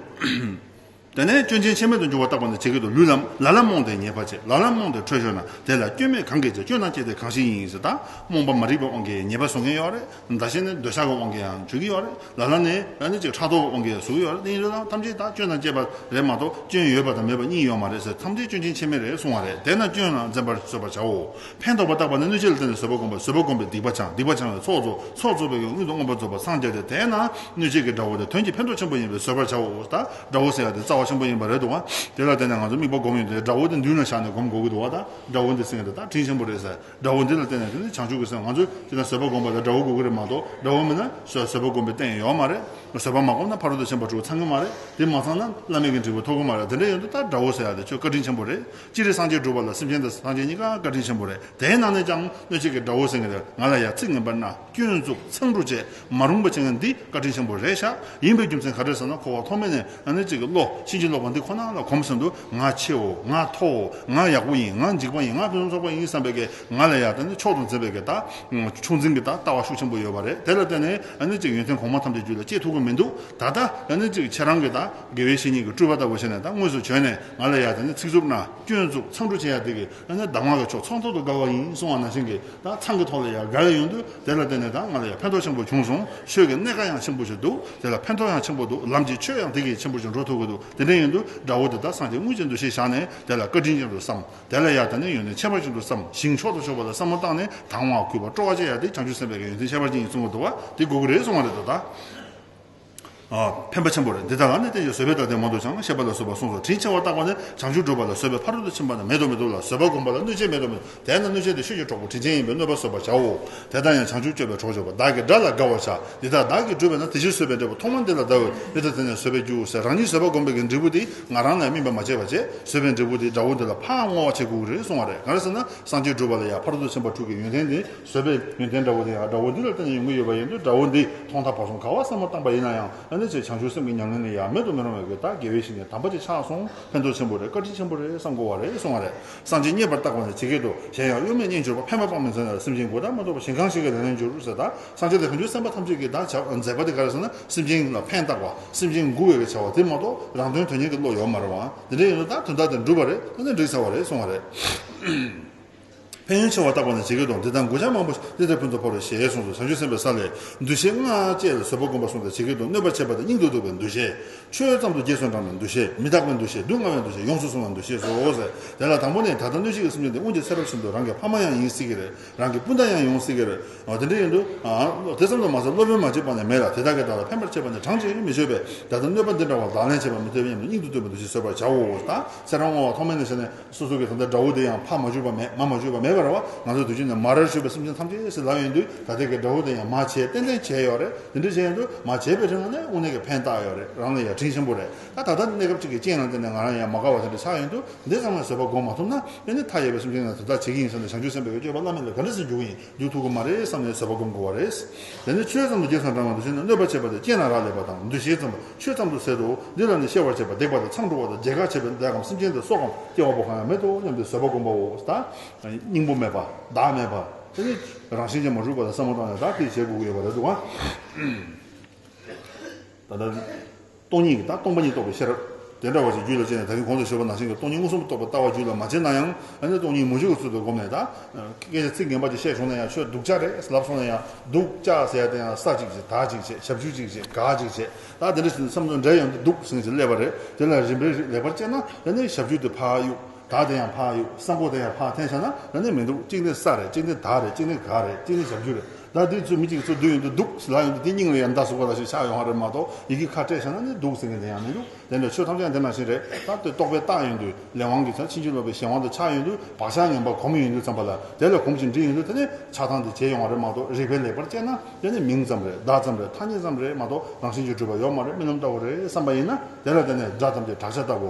དེ་ནས་སྐྱོན་ཅན་ཆད་མེད་དུ་འབྱུང་བ་བརྟག་པ་ནི་ཇི་སྐད་དུ་ལུས་ལ་ལ་ལ་རྨོངས་ཏེ་ཉེས་པ་བྱེད་ལ་ལ་རྨོངས་ཏེ་ཁྲོས་ཤོར་ན་དེ་ལ་སྐྱོན་མེད་གང་གིས་བྱས་སྐྱོན་དང་བཅས་ཏེ་གང་ཞིག་ཡིན་ཟེར་ད་རྨོངས་པ་མ་རིག་པ་དབང་གིས་ཉེས་པ་བཟོ་མཁན་ཡོད་རེད་མདའ་བྱས་ནས་འདོད་ཆགས་ཀྱི་དབང་གིས་ཡང་འཇུག་གི་ཡོད་རེད་ལ་ལ་ནི་ལ་ནི་ཅིག་ཕྲག་དོག་གི་དབང་གིས་ཟུག་གི་ཡོད་རེད་དེ་ཡིན་རེད་དམ་ཐམས་ཅད་དག་སྐྱོན་དང་བཅས་པ་རེད་མ་གཏོགས་སྐྱོན་ཡོད་པ་དང་མེད་པ་གཉིས་ཡོད་མ་རེད་ཟེར་ཐམས་ཅད་སྐྱོན་ཕྱིན་ཆད་མེད་རེད་གསུང་བ་རེད་དེས་ན་སྐྱོན་ལ་འཛེམ་པར་བཟོད་པར་བྱའོ། ཕན་འདོགས་པ་བརྟགས་པ་ནི་གནོད་བྱེད་ལ་བརྟེན་ནས་བཟོད་པ་བསྒོམ་པ་བཟོད་པ་བསྒོམ་པས་སྡིག་པ་བྱང་སྡིག་པ་བྱང་བའི་ཚོགས་རྫོགས་ཚོགས་རྫོགས་པའི་ཡོན་ཀུན་ཏུ་མངོན་པར་རྫོགས་པར་སངས་རྒྱས་ཏེ་དེས་ན་གནོད་བྱེད་ཀྱི་དགྲ་བོ་དེ་དོན་གྱི་ཕན་འདོགས་ཆེན་པོ་ཡིན་པས་བཟོད་པར་བྱའོ་ད་དགྲ་བོ་ཟེར་ཡ་དེ་རྩ་བ་ཆེན་པོ་ཡིན་པ་རེད་འདུག་བ་དེ་ལ་བརྟེན་ནས་ང་ཚོ་དམིགས་པ་བསྒོམ་ཡོད་དེ་དགྲ་བོ་དེ་མདུན་ལ་བཞག་ནས་བསྒོམ་དགོས་ཀྱི་འདུག་བ་ད་དགྲ་བོ་འདི་ཟེར་ཡ་དེ་དག་དྲིན་ཆེན་པོ་རེད་ཟེར། དགྲ་བོ་འདི་ལ་བརྟེན་ནས་དེ་ནི་བྱང་ཆུབ་ཀྱི་སེམས་ང་ཚོས་ཅི་ན་བཟོད་པ་བསྒོམ་པ་དང་དགྲ་བོ་དགོས་ཀྱི་རེད་མ་གཏོགས་དགྲ་བོ་མེད་ན་བཟོད་པ་བསྒོམ་པའི་སྟེང་ཡོད་མ་རེད། བཟོད་པ་མ་བསྒོམ་ན་ཕ་རོལ་ཏུ་ཕྱིན་པ་འགྲོ་གི་ཚང་གི་མ་རེད་དེ་མ་ཚང་ན་བླ་མེད་ཀྱི་འབྲས་བུ་ཐོབ་གི་མ་རེད་དེ་འདྲ་ཡོད་འདུག་ད་དགྲ་བོ་ཟེར་ཡག་དེ་ཁྱོད་བཀའ་དྲིན་ཆེན་པོ་རེད་ཅི་རིགས་སངས་རྒྱས་བསྒྲུབ་པ་ལ་སེམས་ཅན་དང་སངས་རྒྱས་གཉིས་ཀ་བཀའ་དྲིན་ཆེན་པོ་རེད་དེའི་ནང་ནས་ཀྱང་གནོད་བྱེད་ཀྱི་དགྲ་བོ་ཟེར་གི་རེད་ང་ལ་ཡ་ཚིག་ངན་པ་སྣ། སྐྱོན་འཛུགས་མཚང་འབྲུ་བཅས་མ་རུངས་པ་བྱེད་མཁན་འདི་བཀའ་དྲིན་ཆེན་པོ་རེད་ཤག་ཡིན་པའི་རྒྱུ་མཚན་ག་རེད་ཟེར་ན་ཁོ་བ་ཐོག་མེད་ནས་ཨ་ནེ་གཅིག་གི་བློ་ཕྱིན་ཅི་ལོག་པ་འདི་ཁོ་ན་ལ་གོམས་བསམ་དུ་ང་ཆེའོ་ང་མཐོའོ་ང་ཡག་པོ་ཡིན་ང་འཇིགས་པ་ཡིན་ང་ཕན་ཚུན་ཚོགས་པ་ཡིན་བསམ་པའི་གེ་ང་ལ་ཡག་ད་ནི་མཆོག་ཏུ་མཛེས་པའི་གེ་ད་ཕྱུགས་འཛིན་གི་ད་ལྟ་བ་ཤུགས་ཆེན་པོ་ཡོད་པ་རེད་དེ་ལ་བརྟེན་ནས་ཨ་ནེ་གཅིག་ཡོན་ཏན་གོང་མ་ཐམས་ཅད་རྒྱུད་ལ་སྐྱེས་ཐུབ་ཀི་མི་འདུག་ད་ལྟ་ཨ་ནེ་གཅིག་ཁྱེད་རང་གི་ད་དགེ་བའི་བཤེས་གཉེན་གི་སྤྲུལ་པ་ལྟ་བུ་བྱས་ནས་ད་དངོས་སུ་བྱོན་ནས་ང་ལ་ཡག་ད་ནི་ཚིག་རྩུབ་ན་སྐྱོན་འཛུགས་མཚང་འབྲུ་བྱེད་ཡག་འདི་གི་ཨ་ནི་ཟླ་ངོ་ལ་ཆོག་ཚང་ཐོག་ཏུ་དགའ་བ་ཡིན་གསུང་བ་ནང་བཞིན་གྱི་དང་ཚང་གི་ཐོག་ལ་ཡང་དགའ་བའི་ཡོང་དུས་དེ་ལ་བརྟེན་ནས་དང་ང་ལ་ཡང་ཕན་ཐོག་ཆེན་པོ་བྱུང་སོང་ཆོས་ཀྱི་གནད་ཀ་ཡང་ཆེན་པོ་ཞིག་འདུག་དེ་ལ་ཕན་ཐོག་ཡང་ཆེན་པོ་འདུག་ལམ་གྱི་ཆོས་ཡང་དེ་གྱིས་ཆེན་པོ་ཞིག་འགྲོ་ཐུབ་ཀྱི་འདུག་དེ་འདྲའི་ཡོང་དུས་དགྲ་བོ་འདི་དག་སངས་རྒྱས་དངོས་ཅན་དུ་ཤེས་བཞག་ནས་དེ་ལ་བཀའ་དྲིན་ཅན་དུ་བསམ། དེ་ལ་ཡང་དེ་ནས་ཡོང་ནས་ཁྱད་པར་ཅན་དུ་བསམ་ཞིང་མཆོག་ཏུ་ཕྱོགས་པ་ལ་བསམ་བློ་བཏང་ནས་དང་བ་ཁུར་བ་སྤྲོ་བ་བཅས་ཡང་དེ་བྱང་ཆུབ་སེམས་དཔའི་ག་ཡོན་ཏན་ཁྱད་པར་ཅན་ཡིན་གསུང་བ་དུ་བ་དེ་དགོས་ཀྱི་རེད་གསུང་བ་རེད་དོ་ད། ཕན་པ་ཆེན་པོ་རེད། འདི་དག་ལ་ནི་བསྟན་བཅོས་བཟོད་པས་ད་ལྟའི་མ་དུ་བྱང་ན་ཤེས་པ་ལ་བཟོད་པ་གསུངས་སོ་དྲིན་ཆེ་བར་བཏགས་པ་ནི་བྱང་ཆུབ་སྒྲུབ་པ་ལ་བཟོད་པའི་ཕ་རོལ་ཏུ་ཕྱིན་པ་ན་མེད་དུ་མི་འདུག་ལ་བཟོད་པ་བསྒོམ་པ་ལ་གནོད་བྱེད་མེད་དུ་མི་འདུག་དེས་ན་གནོད་བྱེད་དེ་ཆོས་ཀྱི་གྲོགས་པོ་དྲིན་ཅན་ཡིན་པས་གནོད་པ་བཟོད་པར་བྱའོ། དེ་ལྟར་ཡང་བྱང་ཆུབ་སྤྱོད་པའི་གྲོགས་སྤྱོད་པ་བདག་གི་དགྲ་ལ་དགའ་བར་བྱ། འདི་ལྟར་བདག་གིས་བསྒྲུབས་པས་ན་དེ་ཕྱིར་བཟོད་པའི་འབྲས་བུ་ཐོག་མར་འདི་ལ་བདག་འོས་མི་ཐ་དེ་ནས་བཟོད་པའི་རྒྱུ་ཟེར་རང་ཉིད་བཟོད་པ་བསྒོམ་པའི་གི་འབྲས་བུ་དེ་ང་རང་ལ་ཡང་སྨིན་པར་མ་བྱས་པར་བྱས་བཟོད་པའི་འབྲས་བུ་དེས་དགྲ་བོ་འདི་ལ་ཕའང་བསྔོ་བ་བྱེད་དགོས་ཀྱི་རེད་གསུངས་བ་རེད་གང་རེད་ཟེར་ན་སངས་རྒྱས་བསྒྲུབ་པ་ལ་ཡང་ཕ་རོལ་ཏུ་ཕྱིན་པར་ཐུག་གི་ཡོན་ཏན་དེ་བཟོད་པའི་ཡོན་ཏན་དགྲ་བོ་དེ་ཡང་དགྲ་བོ་འདི་ལ་བརྟེན་ནས་ཡོང་གི་ཡོད་པ་ཡིན་དུས་དགྲ་བོ་འདིས་ཐོག་མཐའ་བར་གསུམ་ག་བ་བསམ་བློ་བཏང་པ་ཡིན་ན་ཡང་ཨ་ནེ་ཆེ་བྱང་ཆུབ་སེམས་ཀྱི་ཉམས་ལེན་ནི་ཡང་མེད་དུ་མི་རུང་བའི་གེ་ད་དགེ་བའི་ཞིང་ནས་དམ་པ་ཆེ་ཆགས་སོང་ཕན་ཐོགས་ཆེན་པོ་རེད་བཀའ་དྲིན་ཆེན་པོ་རེད་བསམ་གོ་བ་རེད་གསུང་བ་རེད་གསང་ཆེན་རྙེད་པར་བཏགས་པ་ནི་ཇི་སྐད་དུ་གཞན་ཡང་གཡོ་མེད་རྙེད་འབྱོར་པ་ཕན་པ་སྤང་མི་མཛད་ན་སེམས་ཅན་དགུ་དག་མ་གཏོགས་པ་གཞན་གང་ཞིག་གི་ལས་ལེན་འབྱོར་ཟེར་ད་གསང་ཆེན་ལས་ཕན་ཚུན་སེམས་པ་ཐམས་ཅད་ཀྱིས་བདག་བྱ་མཛད་པ་དེ་ག་རེ་ཟེར་ན་སེམས་ཅན་ལ་ཕན་བཏགས་པ་སེམས་ཅན་མགུ་བའི་གེ་བྱ་བ་དེ་མ་གཏོགས་རང་དོན་དོན་གཉེར་གྱི་བློ་ཡོད་མ་རེད་བ་འདི་འདྲ་ཡིན་དུས་ད་དོན་དག་དེ་འགྲུབ་པ་རེད་ཨ་ནེ་འགྲིག་ཟེར་བ་རེད་གསུང་བ་རེད། ཕན་ཡོན་ཆེ་བར་བརྟགས་པ་ནི་ཇི་སྐད་དུ་འདི་དང་མགུལ་ཆང་མང་པོ་ཞིག་ཏིལ་འབྲས་ཕུན་ཚོགས་འཕོ་བའི་ཞེས་གསུངས་སོ་བྱང་ཆུབ་སེམས་དཔའི་ས་ལས་འདུ་ཤེས་ལྔ་བཅས་ལ་བཟོད་པ་བསྒོམ་པར་གསུངས་ཏེ་ཇི་སྐད་དུ་གནོད་པར་བྱེད་པ་དང་སྙིང་དུ་སྡུག་པའི་འདུ་ཤེས། ཆོས་ཙམ་དུ་རྗེས་སུ་འབྲང་བའི་འདུ་ཤེས་མི་རྟག་པའི་འདུ་ཤེས་སྡུག་བསྔལ་བའི་འདུ་ཤེས་ཡོངས་སུ་བཟུང་བའི་འདུ་ཤེས་སོ། དེ་ལ་དང་པོ་ནི་ད་ལྟ་གནོད་བྱེད་ཀྱི་སེམས་ཅན་འདི་སྔོན་གྱི་ཚེ་རབས་བཞིན་དུ་རང་གི་ཕ་མ་ཡང་ཡིན་སྲིད་ཀྱི་རེད་རང་གི་སྤུན་ཟླ་ཡང་ཡོང་སྲིད་ཀྱི་རེད། དེ་འདྲ་ཡིན་དུས། དེ་ཙམ་དུ་མ་ཟད་སློབ་དཔོན་མ་གཅིག་པ་ནས་མེད་ལ་དེ་དག་གིས་བདག་ལ་ཕན་པར་བྱེད་པ་ནི་གྲངས་བཅད་ཀྱིས་མི་ཆོད་པས་ད་ལྟ་གནོད་པ་འདི་འདྲ་བ་ལག་ལེན་བྱེད་པར་མི་ཐོས་སྙམ་ནས་སྙིང་དུ་སྡུག་པའི་འདུ་ཤེས་གསོད་པར་བྱའོ། དང་ཚེ་རང་བསྔོ་བ་ཐོག་མེད་ནས་བྱས་ནས། སོ་སོ་གི་དམ་བཅའ་དགྲ་བོ་དེ་ཡང་ཕ་མ་བཅོས་པ་མེད་མ་མ་བཅོས་པ་མེད་པར་བ་ང་ཚོའི་དུས་ཆེན་ནས་མ་རེར་བྱོས་པའི་སེམས་ཅན་ཐམས་ཅད་སྲིད་ལག་ཡིན་དུས་ད་ལྟའི་གི་དགྲ་བོ་དེ་ཡང་མ་བྱས་ཏན་ཏན་བྱས་ཡོད་རེད་དེ་འདྲའི་བྱས་ཡོད་དུས་མ་བྱས་པའི་ཁྲིམས་ལ་ནི་དབུ་ནས་གི་ཕན་བཏགས་ཡོད་རེད་རང་ལ་ཡ་ཁྲིན་ཆེན་པོ་རེད་ད་ད་ལྟ་ནི་གནས་སྐབས་གཅིག་གི་རྐྱེན་ལ་བརྟེན་ནས་ང་རང་ཡང་མ་དགའ་བ་དེ་འདྲ་ཆགས་ཡོད་དུས་འདི་ཙམ་ལ་བཟོད་པ་སྒོམ་མ་ཐུབ་ན་དེ་ནི་མཐའ་ཡས་པའི་སེམས་ཅན་ལ་དེ་དག་བྱེད་ཀྱི་ཡིན་ཟེར་ནས་བྱང་ཆུབ་སེམས་དཔའ་བའི་སྤྱོད་པ་བླ་མེད་ལ་ག་འདྲ་སེམས་འཇུག་གི་ཡིན། རྒྱུ་ཐུག་གི་མ་རེད་བསམ་ནས་བཟོད་པ་སྒོམ་དགོས་བ་རེད། དེ་ནས་ཆོས་ཙམ་དུ་རྒྱས་སམ་འབྲང་བ་དུ་བྱས་ནས་གནོད་པར་བྱེད་པ་དེ་སྐྱེས་ན་རག་ལས་པ་དང་འདུ་ཤེས་ཙམ་པོ་ཆོས་ཙམ་དུ་ཟད་དོ། འདི་ལ་ནི་ཤེས་པར་བྱེད་པ་བརྡེག་པ་དང་མཚང་འདྲུ་བ་དང་རྗེས་དགག་བྱེད་པའི་བརྡེག་གམ་སེམས་ཅན་དེ་སྲོག་གམ་སྐྱེ་བ་པོ་གང་ཡང་མེད་དོ་སྙམ་སྟེ་བཟོད་པ་སྒོམ་པའོ། སྙིང་པོ་མེད་པ། བདག་མེད་པ། དེ་ནི་རང་བཞིན་གྱིས་མ་གྲུབ་པ་དང་སེན་མོ་བཀྲག་ནས་བདག་གིས་བྱེད་དགོས་ཀྱི་ཡོད་པ་རེད་དོ། སྟོང་ཉིད་ཀྱི་དང་སྟོང་པ་ཉིད་རྟོགས་པའི་ཤེས་རབ། དེ་འདྲ་བ་ཞིག་རྒྱུད་ལ་སྤྱད་ནས་ད་རིང་གོང་དུ་བཤད་པ་ནང་བཞིན་གྱི་སྟོང་ཉིད་མངོན་སུམ་དུ་རྟོགས་པ་ལྟ་བ་རྒྱུད་ལ་མ་སྤྱད་ན་ཡང་ཨ་ནི་སྟོང་ཉིད་མུ་བཞི་ཀ་ཚུལ་དུ་བསྒོམས་ནས་དང། སྐད་ཆ་ཚིག་ངན་པ་ཅིག་བཤད་བྱུང་ན་ཡང་ཆོས་སྡུག་ཅག་རེད་ལབ་སོང་ན་ཡང་སྡུག་ཅག་ཟེར་ཡག་དེ་ཡང་ཟ་ཅིག་བྱེད་དག་ཅིག་བྱེད་ཞབས་ཞུ་ཅིག་བྱེད་དགག་ཅིག་བྱེད་དག་དེ་འདྲ་བྱས་ནས་བསམ་ཚུལ་འདྲ་ཡོང་དུས་སྡུག་ཟིང་ཞིག་སླེབས་པ་རེད་དེ་ལ་རིམ་པས་རིགས་ལེགས་པར་དཔྱད་ན་ད་ནི་ཞབས་ཞུ་དེ་ཕག་གཡུག་དག་དེ་ཡང་ཕག་གཡུག་ས་མགོ་དེ་ཡང་ཕག་འཐེན་བྱས་ན་ད་ནི་མི་འདུག་གཅིག་ནི་ས་རེད་གཅིག་ནི་དག་རེད་གཅིག་ནི་དགག་རེད་གཅིག་ནི་ཞབས་ཞུ་རེད། ལ་དེ་ཚོ་མི་གཅིག་ཚོ་བསྡུ་ཡོང་དུ་འདུག་ལ་ཡོང་དུ་དེ་སྙིང་ལ་ཡང་མདའ་ཟུག་པ་ལ་ཞིག་ཆགས་ཡོང་བ་རེད་མ་གཏོགས་ཡི་གེ་ཁ་བྲལ་བྱས་ན་ནི་འདུག་ཟེར་མཁན་དེ་ཡང་མི་འདུག་དེ་འདྲ་ཆོས་ཐམས་ཅད་འདི་ནང་བཞིན་རེད་ད་དེ་རྟོགས་པའི་རྟགས་ཡོང་དུས་ལས་དབང་གིས་ཚང་ཕྱིན་ཅི་ལོག་པའི་གཞན་དབང་དུ་ཆགས་ཡོང་དུས་བག་ཆགས་ངན་པ་གོམས་ཡོང་དུས་ཙམ་པ་ལ་དེ་ལ་གོམས་ཤིང་འདྲིས་ཡོང་དུས་དེ་ནི་ཆགས་སྡང་དེ་བྱས་ཡོང་བ་རེད་མ་གཏོགས་རིག་པའི་ལེགས་པར་དཔྱད་ན་དེ་ནི་མིང་ཙམ་རེད་བརྡ་ཙམ་རེད་ཐ་སྙད་ཙམ་རེད་མ་གཏོགས་རང་བཞིན་གྱི་སྤྲུལ་པ་ཡོད་མ་རེད་རྨི་ལམ་ལྟ་བུ་རེད་བསམ་པ་ཡིན་ན་དེ་ལ་དེ་ནི་སྒྲ་ཙམ་གྱི་བྲག་ཆ་ལྟ་བུ་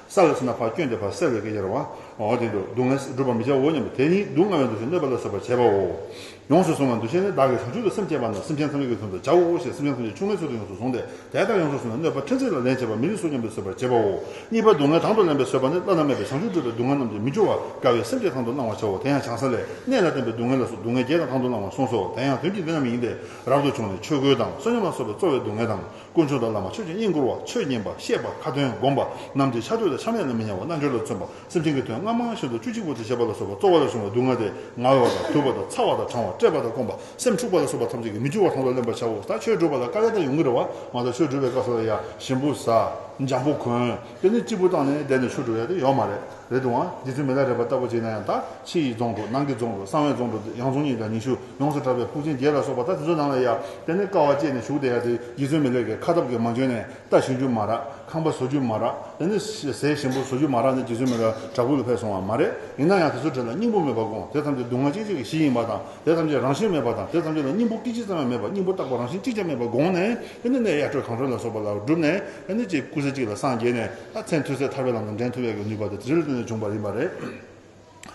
ས་ལ་སོན་ན་བག་སྐྱོན་དེ་བག་སེལ་བའི་སྐད་ཆ་རེད། འོ་དེ་འདུག་སྡུག་བསྔལ་སྒྲུབ་པར་མི་བྱའོ་སྙམ་པ་དེ་ནི་སྡུག་བསྔལ་བའི་འདུ་ཤེས་གནོད་པ་ལ་སོགས་པར་བྱེད་པའོ། ཡོངས་སུ་བཟུང་བའི་འདུ་ཤེས་ནི་བདག་གིས་བྱང་ཆུབ་ཏུ་སེམས་བསྐྱེད་པ་རྣམས་སེམས་ཅན་ཐམས་ཅད་ཀྱི་དོན་དུ་བྱའོ་ཞེས་སེམས་ཅན་ཐམས་ཅད་ཆུང་མའི་ཚུལ་དུ་ཡོངས་སུ་བཟུང་སྟེ་དེ་ལྟར་ཡོངས་སུ་བཟུང་བའི་གནོད་པ་ཕྲན་ཚེགས་ལ་ལེན་བྱེད་པ་མི་རིགས་སོ་སྙམ་པས་བཟོད་པར་བྱེད་པའོ། གཉིས་པ་སྡུག་བསྔལ་དང་དུ་ལེན་པའི་བཟོད་པ་ནི་བླ་ན་མེད་པའི་བྱང་ཆུབ་སྒྲུབ་པའི་སྡུག་བསྔལ་རྣམས་ཀྱིས་མི་སྐྱོ་བར་དཀའ་བའི་སེམས་བསྐྱེད་དང་དུ་བླང་བར་བྱའོ་དེ་ཡང་བྱང་ས་ལས་གནས་ལ་བརྟེན་པའི་སྡུག་བསྔལ་ལ་སོགས་སྡུག་བསྔལ་བརྒྱད་དང་དུ་བླང་བར་གསུངས་སོ་དེ་ཡང་དོན་གྱིས་འདི་རྣམས་ཡིན་ཏེ་རབ་ཏུ་བྱུང་ནས་ཆོས་གོས་དང་བསོད་སྙོམས་ལ་སོགས་པའི་རྩོལ་བའི་སྡུག་བསྔལ་དང། སྐུ་མཆོག་དང་བླ་མ་ཆོས་ཀྱི་དབྱིངས་བསྐུར་བ་ཆོས་ཉན་པ་ཤེས་པ་ཁ་ཏོན་བསྒོམ་པ་རྣམས་ཀྱིས་ཕྱག་དྲུག་དང་ཕྱག་ལེན་ལ་མི་ཉམས་པ་རྣལ་འབྱོར་ལ་བརྩོན་པ་སེམས་ཅན་གྱི་དོན་སྔ་མ་སྔ་ཤིན་ཏུ་བཅུ་གཅིག་པོ་དེ་བྱེད་པ་ལ་སོགས་པ་གཙོ་བོ་ལས་བྱུང་བའི་སྡུག་བསྔལ་དེ་ང་བ་དང་དུབ་པ་དང་ཚ་བ་དང་གྲང་བ་བཀྲེས་པ་དང་སྐོམ་པ་སེམས་འཁྲུགས་པ་ལ་སོགས་པ་ཐམས་ཅད་ཀྱིས་མི་འགྱུར་བར་དང་དུ་ལེན་པར་བྱའོ། ད་ཆོས་བསྒྲུབ་པ་ལ་དཀའ་ལས་དང་ཡོང་གི་རེད་བ་མ་ད་ཆོས་བསྒྲུབ་པའི་སྐབས་སུ་ལ་ཡ་ཞིམ་པོ་བཟའ། འཇམ་པོ་གོན། དེ་ནི་སྐྱིད་པོ་བཏང་ནས་བསྡད་ནས་ཆོས་བསྒྲུབ་ཡ་དེ་ཡོད་མ་རེད། རེད་འདུག་ཨང། འདི་ཚོའི་མི་ལ་རས་པ་ལྟ་བུ་བྱས་ན་ཡང་དག་ཕྱི་ཡི་རྫོང་དུ་ནང་གི་རྫོང་དུ་གསང་བའི་རྫོང་དུ་ཡང་རྫོང་གཉིས་དང་ཉི་ཤུ་ཡོངས་སུ་གྲགས་པའི་ཕུག་ཆེན་བརྒྱད་ལ་སོགས་པ་དག་དེ་ཚོའི་ནང་ལ་ཡ་དེ་ནས་དཀའ་བ་སྤྱད་ནས་བཞུགས་བསྡད་ཡ་དེ་ཡི་ཚོའི་མི་ལས་ཀའི་ཁ་སྟབས་ཀྱིས་མ་འཇོན་ནས་རྟ་ཞིང་རྒྱུ་མ་རག་ཁང་པ་བཟོ་རྒྱུ་མ་རག་དེ་ནས་ཟས་ཞིམ་པོ་བཟོ་རྒྱུ་མ་རག་ནས་དེ་ཚོའི་མི་ལ་དྲག་པོའི་ལ་ཕེབས་སོང་བ་མ་རེད་ཡིན་ན་ཡང་དེ་ཚོའི་གྲས་ལ་སྙིང་པོ་མེད་པར་དགོངས་དེ་ཐམས་ཅད་སྡུག་བསྔལ་སྐྱེ་མཆེད་ཀྱི་གཞི་ཡིན་པ་དང་དེ་ཐམས་ཅད་རང་བཞིན་མེད་པ་དང་དེ་ཐམས་ཅད་ལ་སྙིང་པོ་སྐད་ཅིག་ཙམ་ཡང་མེད་པར་སྙིང་པོ་རྟག་པ་རང་བཞིན་གཅིག་ཀྱང་མེད་པར་དགོངས་ནས་དེ་ནས་ནས་ཡ་ཁྲོད་གངས་ཁྲོད་ལ་སོགས་པ་ལ་བསྒྲུབས་ནས་ནས་ཅེས་སྐུ་ཚེ་གཅིག་ལ་སངས་རྒྱས་ནས། ལྷ་ཚན་ཐུན་ཚད་ཐར་པའི་ལམ་དང་འགྲན་ཐུབ་ཡག་གི་ནུས་པ་དེ་དྲི་རོ་ཏི་ནས་བྱུང་བ་ཡིན་པ་རེད།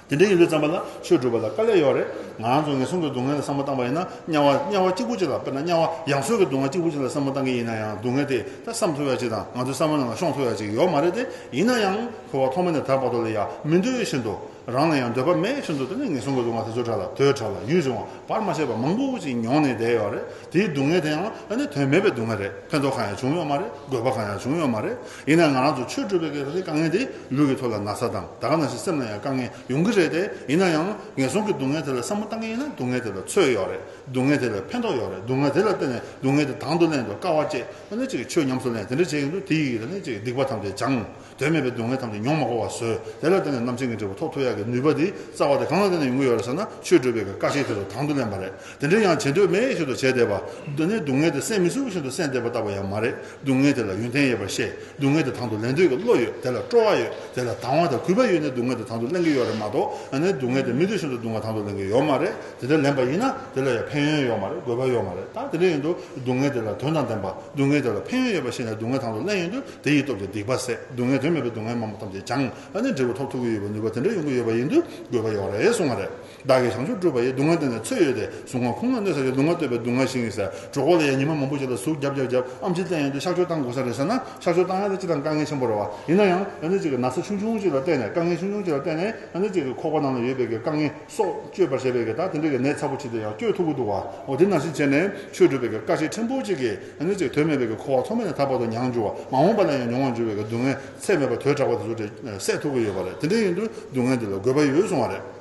དེ་འདྲའི་ཡིན་ལུགས་བརྩམས་པ་ལ་ཆོས་སྒྲུབ་པ་ལ་དཀའ་ལས་ཡོད་རེད། ང་རང་ཚོ་ངན་སོང་གི་སྡུག་བསྔལ་ལ་བསམ་བློ་བཏང་པ་ཡིན་ན་དམྱལ་བ་དམྱལ་བ་གཅིག་པུ་གཅིག་ལ་དཔེར་ན་དམྱལ་བ་ཡང་སོས་ཀྱི་སྡུག་བསྔལ་གཅིག་པུ་གཅིག་ལ་བསམ་བློ་བཏང་གི་ཡིན་ན་ཡང་སྡུག་བསྔལ་དེ་ད་བསམ་ཐུབ་ཡག་གཅིག་དང་ང་ཚོའི་བསམ་བློ་རྣམས་ལ་ཤོང་ཐུབ་ཡག་གཅིག་ཡོད་མ་རེད་དེ་ཡིན་ན་ཡང་འཁོར་བ་ཐོག་མ་ནས་ད་བར་དོ་ལ་ཡ་མི་འདོད་བཞིན་དུ། རང་ལ་ཡང་འདོད་པ་མེད་ཅེས་འདོད་དོ་ནས་ངན་སོང་གི་སྡུག་བསྔལ་དེ་ཚོ་ཕྲ་ལ་དུས་ཕྲ་ལ་ཡུན་ཆུང་བ་བར་མ་ཆད་པར་མང་པོ་ཞིག་མྱོང་ནས་བསྡད་ཡོད་རེད་དེའི་སྡུག་བསྔལ་དེ་ཡང་ཨ་ནི་དོན་མེད་པའི་སྡུག་བསྔལ་རེད་ཕན་ཐོགས་གང་ཡང་བྱུང་ཡོད་མ་རེད་དགོས་པ་གང་ཡང་བྱུང་ཡོད་མ་རེད་ཡིན་ནའང་ང་རང་ཚོ་ཆོས་སྒྲུབ་པའི་གེགས་སེལ་དཀའ་ངལ་དེས་ལུས་ཀྱི་ཐོག་ལ་ན་ཚ་དང་དག་ན་ཞིག་སེམས་ལ་ཡང་དཀའ་ངལ་ཡོང་གི་རེད་དེ་ཡིན་ན་ཡང་ངན་སོང་གི་སྡུག་བསྔལ་དེ་ལ་བསམ་བློ་བཏང་གི་ཡིན་ན་སྡུག་བསྔལ་དེ་ལ་ཚོད་ཡོད་རེད་སྡུག་བསྔལ་དེ་ལ་ཕན་ཐོགས་ཡོད་རེད་སྡུག་བསྔལ་དེ་ལ་བརྟེན་ནས་སྡུག་བསྔལ་དེ་དང་དུ་ལེན་དུ་དཀའ་བ་བཅས་ཨ་ནི་ཅིག་ཆོས་ཉམས་སུ་ལེན་དེ་འདྲ་བྱེད་ཀྱིན་འདུག་དེའི་ཡིག་གིས་ཨ་ནི་ཅིག་སྡིག་པ་ཐམས་ཅད་སྦྱངས། དོན་མེད་པའི་སྡུག་བསྔལ་ཐམས་ཅད་མྱོང་མ་གོ་བར་བཟོད་དེ་ལ་བརྟེན་ནས་རྣམ་མཁྱེན་གྱི་འབྲས་བུ་ཐོག་ཐུག་ཡག་གི་ནུས་པ་དེ་རྩ་བ་དེ་གང་ལ་བརྟེན་ནས་ཡོང་གི་ཡོད་རེད་ཟེར་ན་ཆོས་སྒྲུབ་པའི་བཀའ་བཞིན་དེ་ཚོ་དང་དུ་ལེན་པ་རེད་དེ་འདྲའི་ཡང་བྱེད་འདོད་མེད་བཞིན་དུ་བྱས་བསྡད་པ་འདི་ནི་སྡུག་བསྔལ་དེ་སེལ་མི་ཚུགས་བཞིན་དུ་སེལ་བསྡད་པ་ལྟ་བུ་ཡང་མ་རེད་སྡུག་བསྔལ་དེ་ལ་ཡོན་ཏན་ཡོད་པར་བཤད་སྡུག་བསྔལ་དེ་དང་དུ་ལེན་འདོད་ཀྱི་བློ་ཡོད་དེ་ལ་སྤྲོ་བ་ཡོད་དེ་ལ་དང་བ་དང་གུས་པ་ཡོད་ནས་སྡུག་བསྔལ་དེ་དང་དུ་ལེན་གྱི་ཡོད་རེད་མ་གཏོགས་ནི་སྡུག་བསྔལ་དེ་མི་འདོད་བཞིན་དུ་དུང་བ་དང་དུ་ལེན་གྱི་ཡོད་མ་རེད་དེ་འདྲ་ལེན་པ་ཡིན་ན་དེ་ལ་ཡང་ཕན་ཡོན་ཡོད་མ་རེད་དགོས་པ་ཡོད་མ་རེད་ད་དེ་འདྲ་ཡིན་དུ་སྡུག་བསྔལ་དེ་ལ་དོན་དང་ལྡན་པ་སྡུག་བསྔལ་དེ་ལ་ཕན་ཡོན་ཡོད་པ་ཤེས་ནས་སྡུག་བསྔལ་དང་དུ་ལེན་ཡོང་དུས་དེ་ཡི་སྟོབས་ཀྱིས་སྡིག་པ་བསལ། སྡུག་བསྔལ་དོན་མེད་པའི་སྡུག་བསྔལ་མང་པོ་ཐམས་ཅད་སྦྱངས། ཨ་ནི་འབྲས་བུ་ཐོབ་ཐུག་གི་ཡོད་པའི་ནུས་པ་དེ་འདྲ་ཡོང་གི་ཡོད་པ་ཡིན་དུས་དགོས་པ་ཡོད་རེད་གསུངས་པ་རེད། བདག་གིས་བྱང་ཆུབ་སྤྲུལ་པ་ཡི་སྡུག་བསྔལ་འདི་ནས་ཚོད་ཡོད་དེ་གཟུགས་ངག་ཁུངས་ལ་གནོད་ས་ཞིག་སྡུག་བསྔལ་བསྟོད་པའི་སྡུག་བསྔལ་ཞིག་ཡིན་ཟེར་གྲོགས་སྐོར་ལ་ཡང་ཉི་མ་མང་པོ་ཞིག་ལ་ཟུག་རྒྱབ་རྒྱབ་རྒྱབ་ཨམ་ཆིག་སྟེང་ཡོང་དུས་ཤག་བཅོས་བཏང་དགོས་ས་རེད་ཟེར་ན་ཤག་བཅོས་བཏང་ཡ་ན་ཅི་ཐང་དཀའ་ངལ་ཆེན་པོ་རེད་བ་ཡིན་ན་ཡང་ཨ་ནི་ཅིག་གི་ན་ཚ་ཆུང་ཆུང་ཅིག་ལ་བལྟས་ནས་དཀའ་ངལ་ཆུང་ཆུང་ཅིག་ལ་བལྟས་ནས་ཨ་ནི་ཅིག་གི་ཁོག་པ་ནང་ལ་ཡོད་པའི་གི་དཀའ་ངལ་སོགས་བཅོས་པར་བྱས་པའི་གི་ད་དེ་འདྲའི་གི་ནད་ཚ་པོ་ཆིག་དེ་ཡང་བཅོས་ཐུག་གི་འདུག་བ་འོ་དེ་ནང་བཞིན་བྱས་ནས་ཆོས་སྒྲུབ་པའི་གི་དཀའ་ཆེན་ཕྲན་བུ་ཅིག་གི་གནོད་བྱེད་དོན་མེད་པའི་འཁོར་བ་ཐོག་མེད་ནས་ད་བར་དུ་མྱང་འགྱུར་བ་མ་འོངས་པ་ལ་ཡང་མྱོང་བར་འགྱུར་བའི་སྡུག་བསྔལ་ཚད་མེད་པ་དོས་དྲག་པ་དེ་ཚོ་འདྲེ་སྲས་ཐུག་གི་ཡོད་པ་རེད་དེ་འདྲ་ཡིན་དུས་སྡུག་བསྔལ་འདི་ལ་དགོས་པ་ཡོད་སོང་བ་རེད།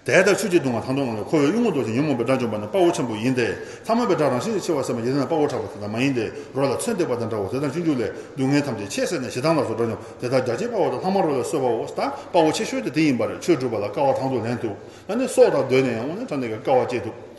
དེ་ལྟར་ཆུ་གཅིག་བརྡུང་བ་དང་བསྡོངས་ནས་འཁོར་བའི་གཡུལ་ངོ་ཟློག་ཅིང་ཉོན་མོངས་པའི་དགྲ་འཇོམས་པ་ནི་དཔའ་བོ་ཆེན་པོ་ཡིན་ཏེ། ཐ་མལ་པའི་དགྲ་རང་བཞིན་གྱིས་འཆི་བ་སེལ་བ་ཡིན་ན་དཔའ་བོ་དྲག་པ་དེ་དག་མ་ཡིན་ཏེ་རོ་ལ་ཚོན་བཏེགས་པ་དང་འདྲ་བོ་དེ་དང་གཅིག་འགྱུར་ལས་སྡུག་བསྔལ་ཐམས་ཅད་ཆད་ཟེར་ནས་ཞེ་སྡང་ལ་སོགས་དགྲ་འཇོམས་དེ་དག་རྒྱ་ཆེའི་དཔའ་བོ་དང་ལྷག་མ་རོ་ལས་གསོད་པའོ་ད་དཔའ་བོ་ཆེ་ཤོས་དེ་དེ་ཡིན་པ་རེད་ཆོས་སྒྲུབ་པ་ལ་དཀའ་བ་དང་དུ་ལེན་ཐུབ་ད་ནི་སྲོག་དང་བསྡོས་ནས་ཡང་སྔོན་ནས་ཐོན་ནས་ཀྱང་དཀའ་བ་སྤྱད་ཐུབ།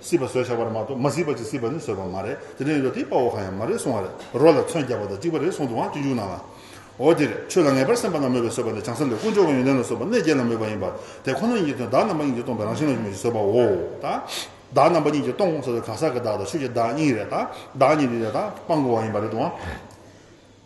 སྲིད་པ་བཟོས་བྱ་བར་མ་གཏོགས་མ་སྲིད་པ་གཅིག་སྲིད་པ་ནི་བཟོས་པ་མ་རེད་དེ་རིང་རོ་དེའི་དཔའ་བོ་གང་ཡང་མ་རེད་གསུང་བ་རེད་རོ་ལ་ཚོན་རྒྱག་པ་དང་གཅིག་པ་རེད་གསུང་དུའང་སྤྱི་འཇུག་གནང་ལ། འོ་དེ་རེད་ཆོས་ལ་ངེས་པར་སེམས་པ་ན་མོས་པས་བཟོས་པ་ནི་བྱང་སེམས་ལས་དཀོན་མཆོག་གི་ཡོན་ཏན་ལ་བཟོས་པ་གནས་བརྒྱད་ལ་མོས་པ་ཡིན་པར་དེ་ཁོ་ན་ཉིད་ཀྱི་དོན་བདག་རྣམ་པ་གཉིས་ཀྱིས་སྟོང་པའི་རང་བཞིན་ལ་མོས་ཀྱིས་བཟོས་པའོ། བདག་རྣམ་པ་གཉིས་ཀྱིས་སྟོང་གོང་ས་ཏེ་གང་ཟག་གི་བདག་དང་ཆོས་ཀྱི་བདག་གཉིས་རེད་བདག་གཉིས་ནི་རེད་དང་སྤང་དགོས་བ་ཡིན་པ་རེད་དོ།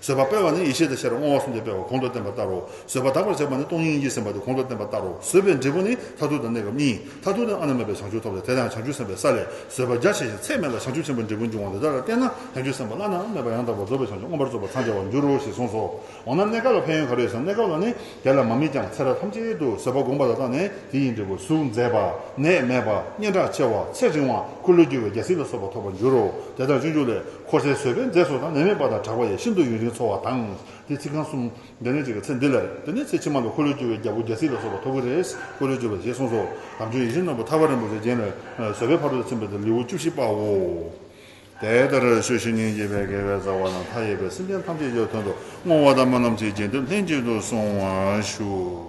བཟོད་པ་སྤེལ་བ་ནི་ཡེ་ཤེས་དང་ཤེས་རབ་བསྔོ་བ་གསུམ་སྟེ་སྤེལ་བ་གོང་དུ་བསྟན་པ་ལྟར་རོ། བཟོད་པ་དག་པར་བྱེད་པ་ནི་སྟོང་ཉིད་ཀྱིས་ཟིན་པ་སྟེ་གོང་དུ་བསྟན་པ་ལྟར་རོ། བཟོད་པའི་འབྲས་བུ་ནི་མཐར་ཐུག་དང་གནས་སྐབས་གཉིས། མཐར་ཐུག་ནི་ཨ་ན་མེད་པའི་བྱང་ཆུབ་ཐོབ་སྟེ་དེ་ལའང་བྱང་ཆུབ་སེམས་དཔའི་ས་ལས་བཟོད་པ་རྒྱ་ཆེ་ཞིང་ཚད་མེད་ལ་བྱང་ཆུབ་ཆེན་པོའི་འབྲས་བུ་འབྱུང་བ་འདི་དག་ལ་བརྟེན་ན་བྱང་ཆུབ་སེམས་དཔའ་བླ་ན་མེད་པ་ཡང་དག་པར་རྫོགས་པའི་བྱང་ཆུབ་མངོན་པར་རྫོགས་པར་འཚང་རྒྱ་བར་འགྱུར་རོ་ཞེས་གསུངས་སོ། འོ་ན་གནས་སྐབས་ལ་ཕན་ཡོན་ག་རེ་ཡོད་ཟེར་ན་གནས་སྐབས་ལ་ནི་དེ་ལ་མ་དམིགས་ཀྱང་ཚེ་རབས་ཐམས་ཅད་དུ་བཟོད་པ་བསྒོམ་པ་ལ་བརྟགས་ནས་དེ་ཡི་འབྲས་བུ་གཟུགས་མཛེས་པ། ནད་མེད་པ། སྙན་གྲགས་ཆེ་བ། ཚེ་རིང་བ། འཁོར་ལོས་སྒྱུར་བའི་རྒྱལ་སྲིད་ལ་སོགས་པ་ཐོབ་པར་འགྱུར་རོ། དེ་ལྟར་སྤྱོད་འཇུག་ལས། འཁོར་སའི་བཟོད་པའི་མཛེས་སོགས་དང་ནད་མེད་པ་དང་གྲགས་པ་ཡིས་ཤིན་ཏུ་ཡུན་རིང་འཚོ་བ་དང། དེའི་ཚིག་རྐང་གསུམ། འདི་ནས་གཅིག་གི་ཚེ་འདི་ལ་རེད། དེ་ནས་ཚེ་ཕྱི་མ་ལ་འཁོར་ལོས་སྒྱུར་བའི་རྒྱལ་པོ་རྒྱལ་སྲིད་ལ་སོགས་པ་ཐོབ་ཀྱི་རེད། འཁོར་ལོས་སྒྱུར་བ་ཞེས་གསུངས་སོ། དམ་ཆོས་ཡིད་བཞིན་ནོར་བུ་ཐར་པ་རིན་པོ་ཆེ་རྒྱལ་བའི་བཟོད་པའི་ཕ་རོལ་ཏུ་ཕྱིན་པ་དེ་ལེའུ་བཅུ་བཞི་པའོ། དེ་ལྟར་ཆོས་བཞི་ནི་འཇིག་པའི་དགེ་བའི་རྩ་བ་དང་མཐའ་ཡས་པའི་སེམས་ཅན་ཐམས་ཅད་ཀྱི་དོན་དུ་བསྔོ་བ་དང་སྨོན་ལམ་གྱི་རྒྱན་དུ་ལྷན་ཅིག་ཏུ་གསུང་བར་ཞུ།